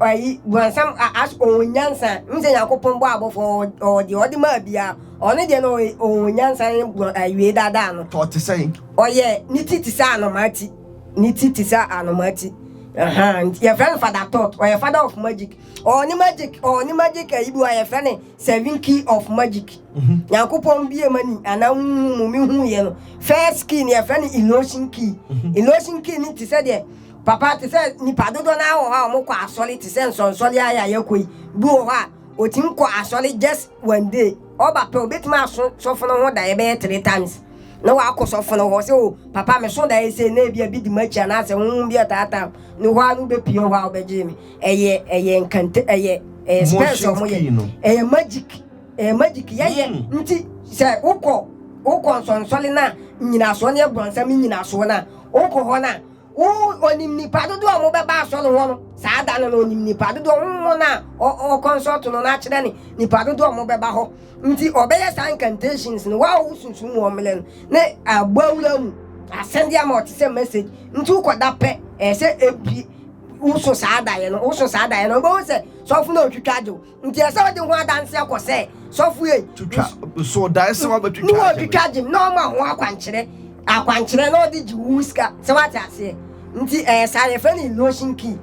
ɔyi bɔnsam as ɔwɔ nyansa n sɛ nyankopɔn bɔ abɔfo ɔwɔ deɛ ɔde maa biara ɔno deɛ no ɔwɔ nyansa ne bɔ awie daadaa no tɔ te sɛn ɔyɛ ne ti te sɛ anomaa ti ne ti te sɛ anomaa ti nti yɛfrɛ no fada tot ɔyɛ fada of magic ɔwɔ ne magic ɔwɔ ne magic ayi bi a yɛfrɛ ne seven key of magic mhm. nyankopɔn bie ma ni anaa mu mehuuiɛ no first key no yɛfrɛ no illusion key mhm. illusion key no te sɛ deɛ Papa, te sɛ nnipa dodoɔ no ara wɔ hɔ a wɔkɔ asɔre te sɛ nsɔnsɔre ara yi a yɛkɔ yi, bi wɔ hɔ a ɔtumi kɔ asɔre just one day, ɔba pɛ ɔbɛtumi aso sɔfo no ho daeɛ bɛyɛ three times na wakɔ sɔfo no hɔ sɛ o papa meso daeɛ sei na ebia bi di m'akyi anaasɛ honhom bi ataataa me hɔ ara no wobɛpue hɔ a wobɛgyee me. Ɛyɛ ɛyɛ nkante ɛyɛ ɛyɛ spells a Motions wɔyɛ. key no. Ɛyɛ magic ɛyɛ magic yɛyɛ Mm. nti sɛ wokɔ wokɔ nsɔnsɔre no a nnyinasoɔ no yɛ brɔnsam nnyinasoɔ no a wokɔ hɔ no a Wo, Onim nnipa dodoɔ a wɔbɛba asɔre hɔ no, saa da no no, Onim nnipa dodoɔ, honhom no a ɔkɔnsɔɔto no no akyerɛ ne nnipa dodoɔ a wɔbɛba hɔ. Nti ɔbɛyɛ saa incantations no, wo a wosunsum wɔn mmerɛ no, ne abɔ awura mu asɛm de ama ɔte sɛ message. Nti wokɔ da pɛ, ɛyɛ sɛ ebie, woso saa daeɛ no, woso saa daeɛ no, wobɛhu sɛ sɔfo no retwitwa agye wo. Nti ɛsɛ sɛ ɔde ho adanseɛ kɔ sɛ sɔfo ei. Twitwa nso dae sɛ wabɛtwitwa agye. Na ɔtwitwa agye na ɔma ho akwankyerɛ akwankyerɛ na ɔde gye wo sika sɛ wate aseɛ. Nti ɛyɛ saa yɛfrɛ no illusion key.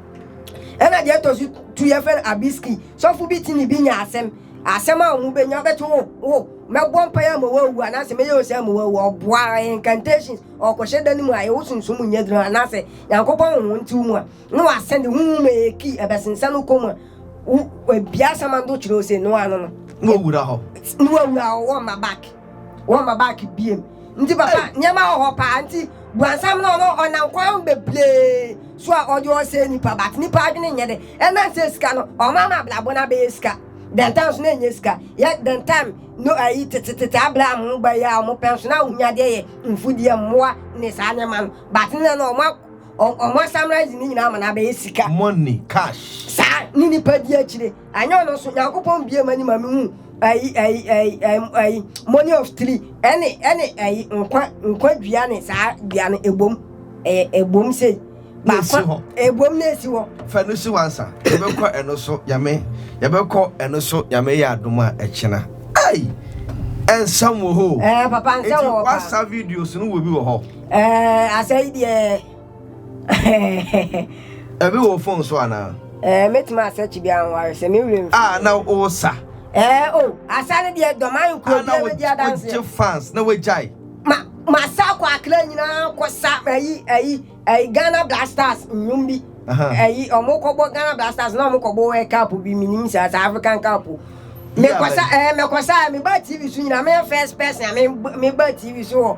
Ɛna deɛ ɛtɔ so tu yɛfrɛ no abyss key. Sɔfo bi te ne bi nya asɛm asɛm a wɔn bɛnya bɛte wo wo mɛbɔ mpaeɛ ama wawu anaasɛ mɛyɛ ose ama wawu ɔboa incantations ɔkɔhyɛ da no mu a yɛwo sunsum nyɛ duro anaasɛ nyankopɔn honhom nte wo mu a no a sɛ ne honhom a eki ɛbɛsensan no kɔm a wo ebia samando kyerɛw se no ano no. Na wɔwura hɔ. Na wɔwura hɔ, wɔmma back. Wɔmma back biem. Nti papa, nneɛma wɔ hɔ paa. Nti Buansam no ɔno ɔnam kwan bebree so a ɔde ɔsɛe nnipa but nnipa adwene nyɛ dɛ. Ɛnam sɛ sika no, wɔama abrabɔ no abɛyɛ sika. Then time nso na ɛnyɛ sika. Yɛ then time no ayi tetetete Abraham ho ba yi a wɔpɛ nso na ahonyadeɛ yɛ mfudeɛ, mmoa ne saa nneɛma no. But nnɛ no wɔn Ɔmo a summarize ne nyinaa ama no abɛyɛ sika. Money, cash. Saa ne nipa di akyire. Anyɛ ɔno nso, Nyankopɔn bue m'ani ma me hu ayi ayi ayi ayi ayi money of three ɛne ɛne ayi nkwa nkwa dua ne saa dua no ebom ɛyɛ ebom sei. Baako ebom na esi hɔ. Fa no si wansa. Yɛbɛkɔ ɛno so Nyame yɛbɛkɔ ɛno so Nyame yɛ adom a ɛkyena. Ei! Nsɛm wɔ hɔ o. Ɛɛ papa nsɛm wɔ hɔ paa. Eti wasa videos no wɔ bi wɔ hɔ. Ɛɛ asɛ yi deɛ Ɛbi wɔ phone so anaa? Ɛɛ mɛtumi asɛ kyi bi anware sɛ me wura mfi. Ah na wosa. Ɛɛ o oh, asa ne deɛ dɔma nkuro bi ɛbɛ di adanseɛ. Wogye fans na wagyae. Ma ma sa kɔ akra nyinaa kɔ sa ɛyi ɛyi ɛyi Ghana Black Stars nnwom bi. Ɛyi ɔmo kɔbɔ Ghana Black Stars na ɔmo kɔbɔ World Cup bi minim saa saa African Cup. Mekɔsa ɛɛ mekɔsa meba TV so nyinaa meyɛ first person a meba TV so wɔ.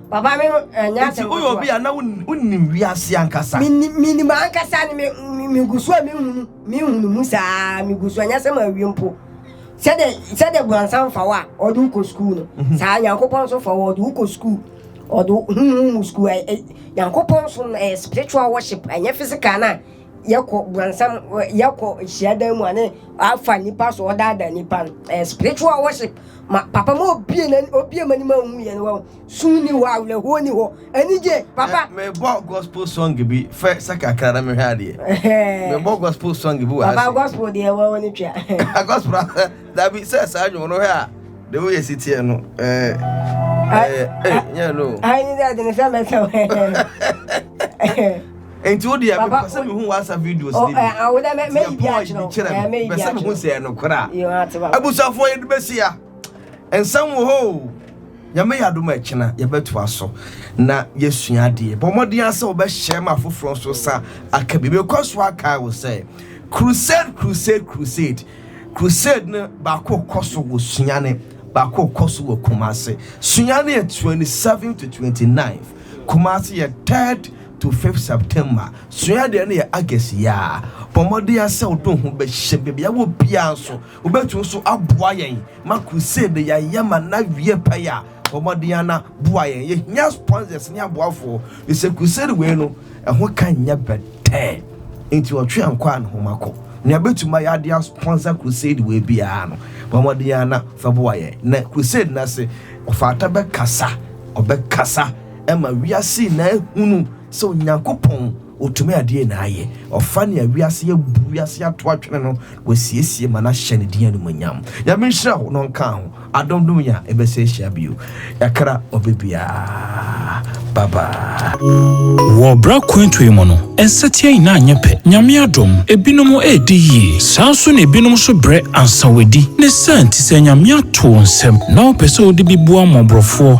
Papa me ho ɛnyɛ asɛm Nti woyɛ obi a na wonim wiase ankasa. Menim ankasa ne megu so a mehunu mehunu mu saa megu so ɛnyɛ sɛ mawie mpo. Sɛdeɛ sɛdeɛ buansan fa wo a ɔde wokɔ sukuu no mhm. saa Nyankopɔn nso fa wo ɔde wokɔ sukuu ɔde huhu mu sukuu Nyankopɔn nso ɛyɛ spiritual worship ɛnyɛ physical no a yɛkɔ guansam yɛkɔ nhyiadan mu ane afa nipa so ɔdaadaa nipa no ɛyɛ eh, spiritual worship ma papa ma obie na obie ma ni ma hu yɛn wɔ sun ni hɔ awerɛhoɔ ni hɔ anigye papa. Eh, mebɔ gospel song bi fɛ sɛ kakra na mehwɛ adeɛ eh. mebɔ gospel song bi wɔ ase papa gospel deɛ ɛwɔ wɔ ne twa ah, gospel dabi sɛ saa nwom no hwɛ a de woyɛ si teɛ no ɛɛ ɛɛ ɛɛ nyɛ no. ayi ni dɛ de ne sɛ mɛ sɛ wɛ. Enti wo deɛ mepɛ sɛ mehu w'asa videos no bi. Deɛ Paul yi bi kyerɛ me, mepɛ sɛ mehu sɛ ɛyɛ nokorɛ a. Abusuafoɔ yɛde bɛsi ha. Nsɛm wɔ hɔ o. Nyame yɛ adom a ɛkyena yɛbɛtoa so na yɛasua adeɛ. Bɔ mmɔden ara sɛ wobɛhyɛ ma afoforɔ nso nsa aka bi. Mekɔ so akae wo sɛ crusade crusade crusade crusade no baako kɔ so wɔ Sunyani, baako kɔ so wɔ Kumasi. Sunyani yɛ 27 to 29, Kumasi yɛ 3rd to fifth September, sua adeɛ no yɛ August yiaa. Bɔ mmɔden ara sɛ wode wo ho bɛhyɛ baabi a wɔ biara nso. Wobɛtumi nso aboa yɛn ma crusade yɛayɛ ma no awie pɛyɛ a, bɔ mmɔden ara na boa yɛn. Yɛhia sponsors ne aboafoɔ, firi sɛ crusade wei no, ɛho ka nyɛ bɛtɛɛ. Enti ɔtwe ankɔ a, ne ho ma kɔ. Nea bɛtumi ayɛ ade a sponsor crusade wei biara no, bɔ mmɔden ara na fa boa yɛn. Na crusade no ase, ɔfata bɛkasa, ɔbɛkasa. ma wiase nyinaa ahunu sɛ Onyankopɔn, otumi ade nyinaa yɛ. Ɔfa nea wiase abu, wiase ato atwene no, na wasiesie ma no ahyɛ ne din animuonyam. Nyame nhyira wo na ɔnka ho adom dom yɛ a yɛbɛsɛ ahyia bio. Yɛakra ɔbɛ biara. Bye bye. Wɔ bere akwantu yi mu no, nsateaa nyinaa nyɛ pɛ. Nyame adom, ebinom redi yie. Saa ara nso na ebinom nso brɛ ansa wɔadi. Ne saa nti, sɛ Nyame ato wo nsam na wopɛ sɛ wode bi boa mmɔborɔfoɔ,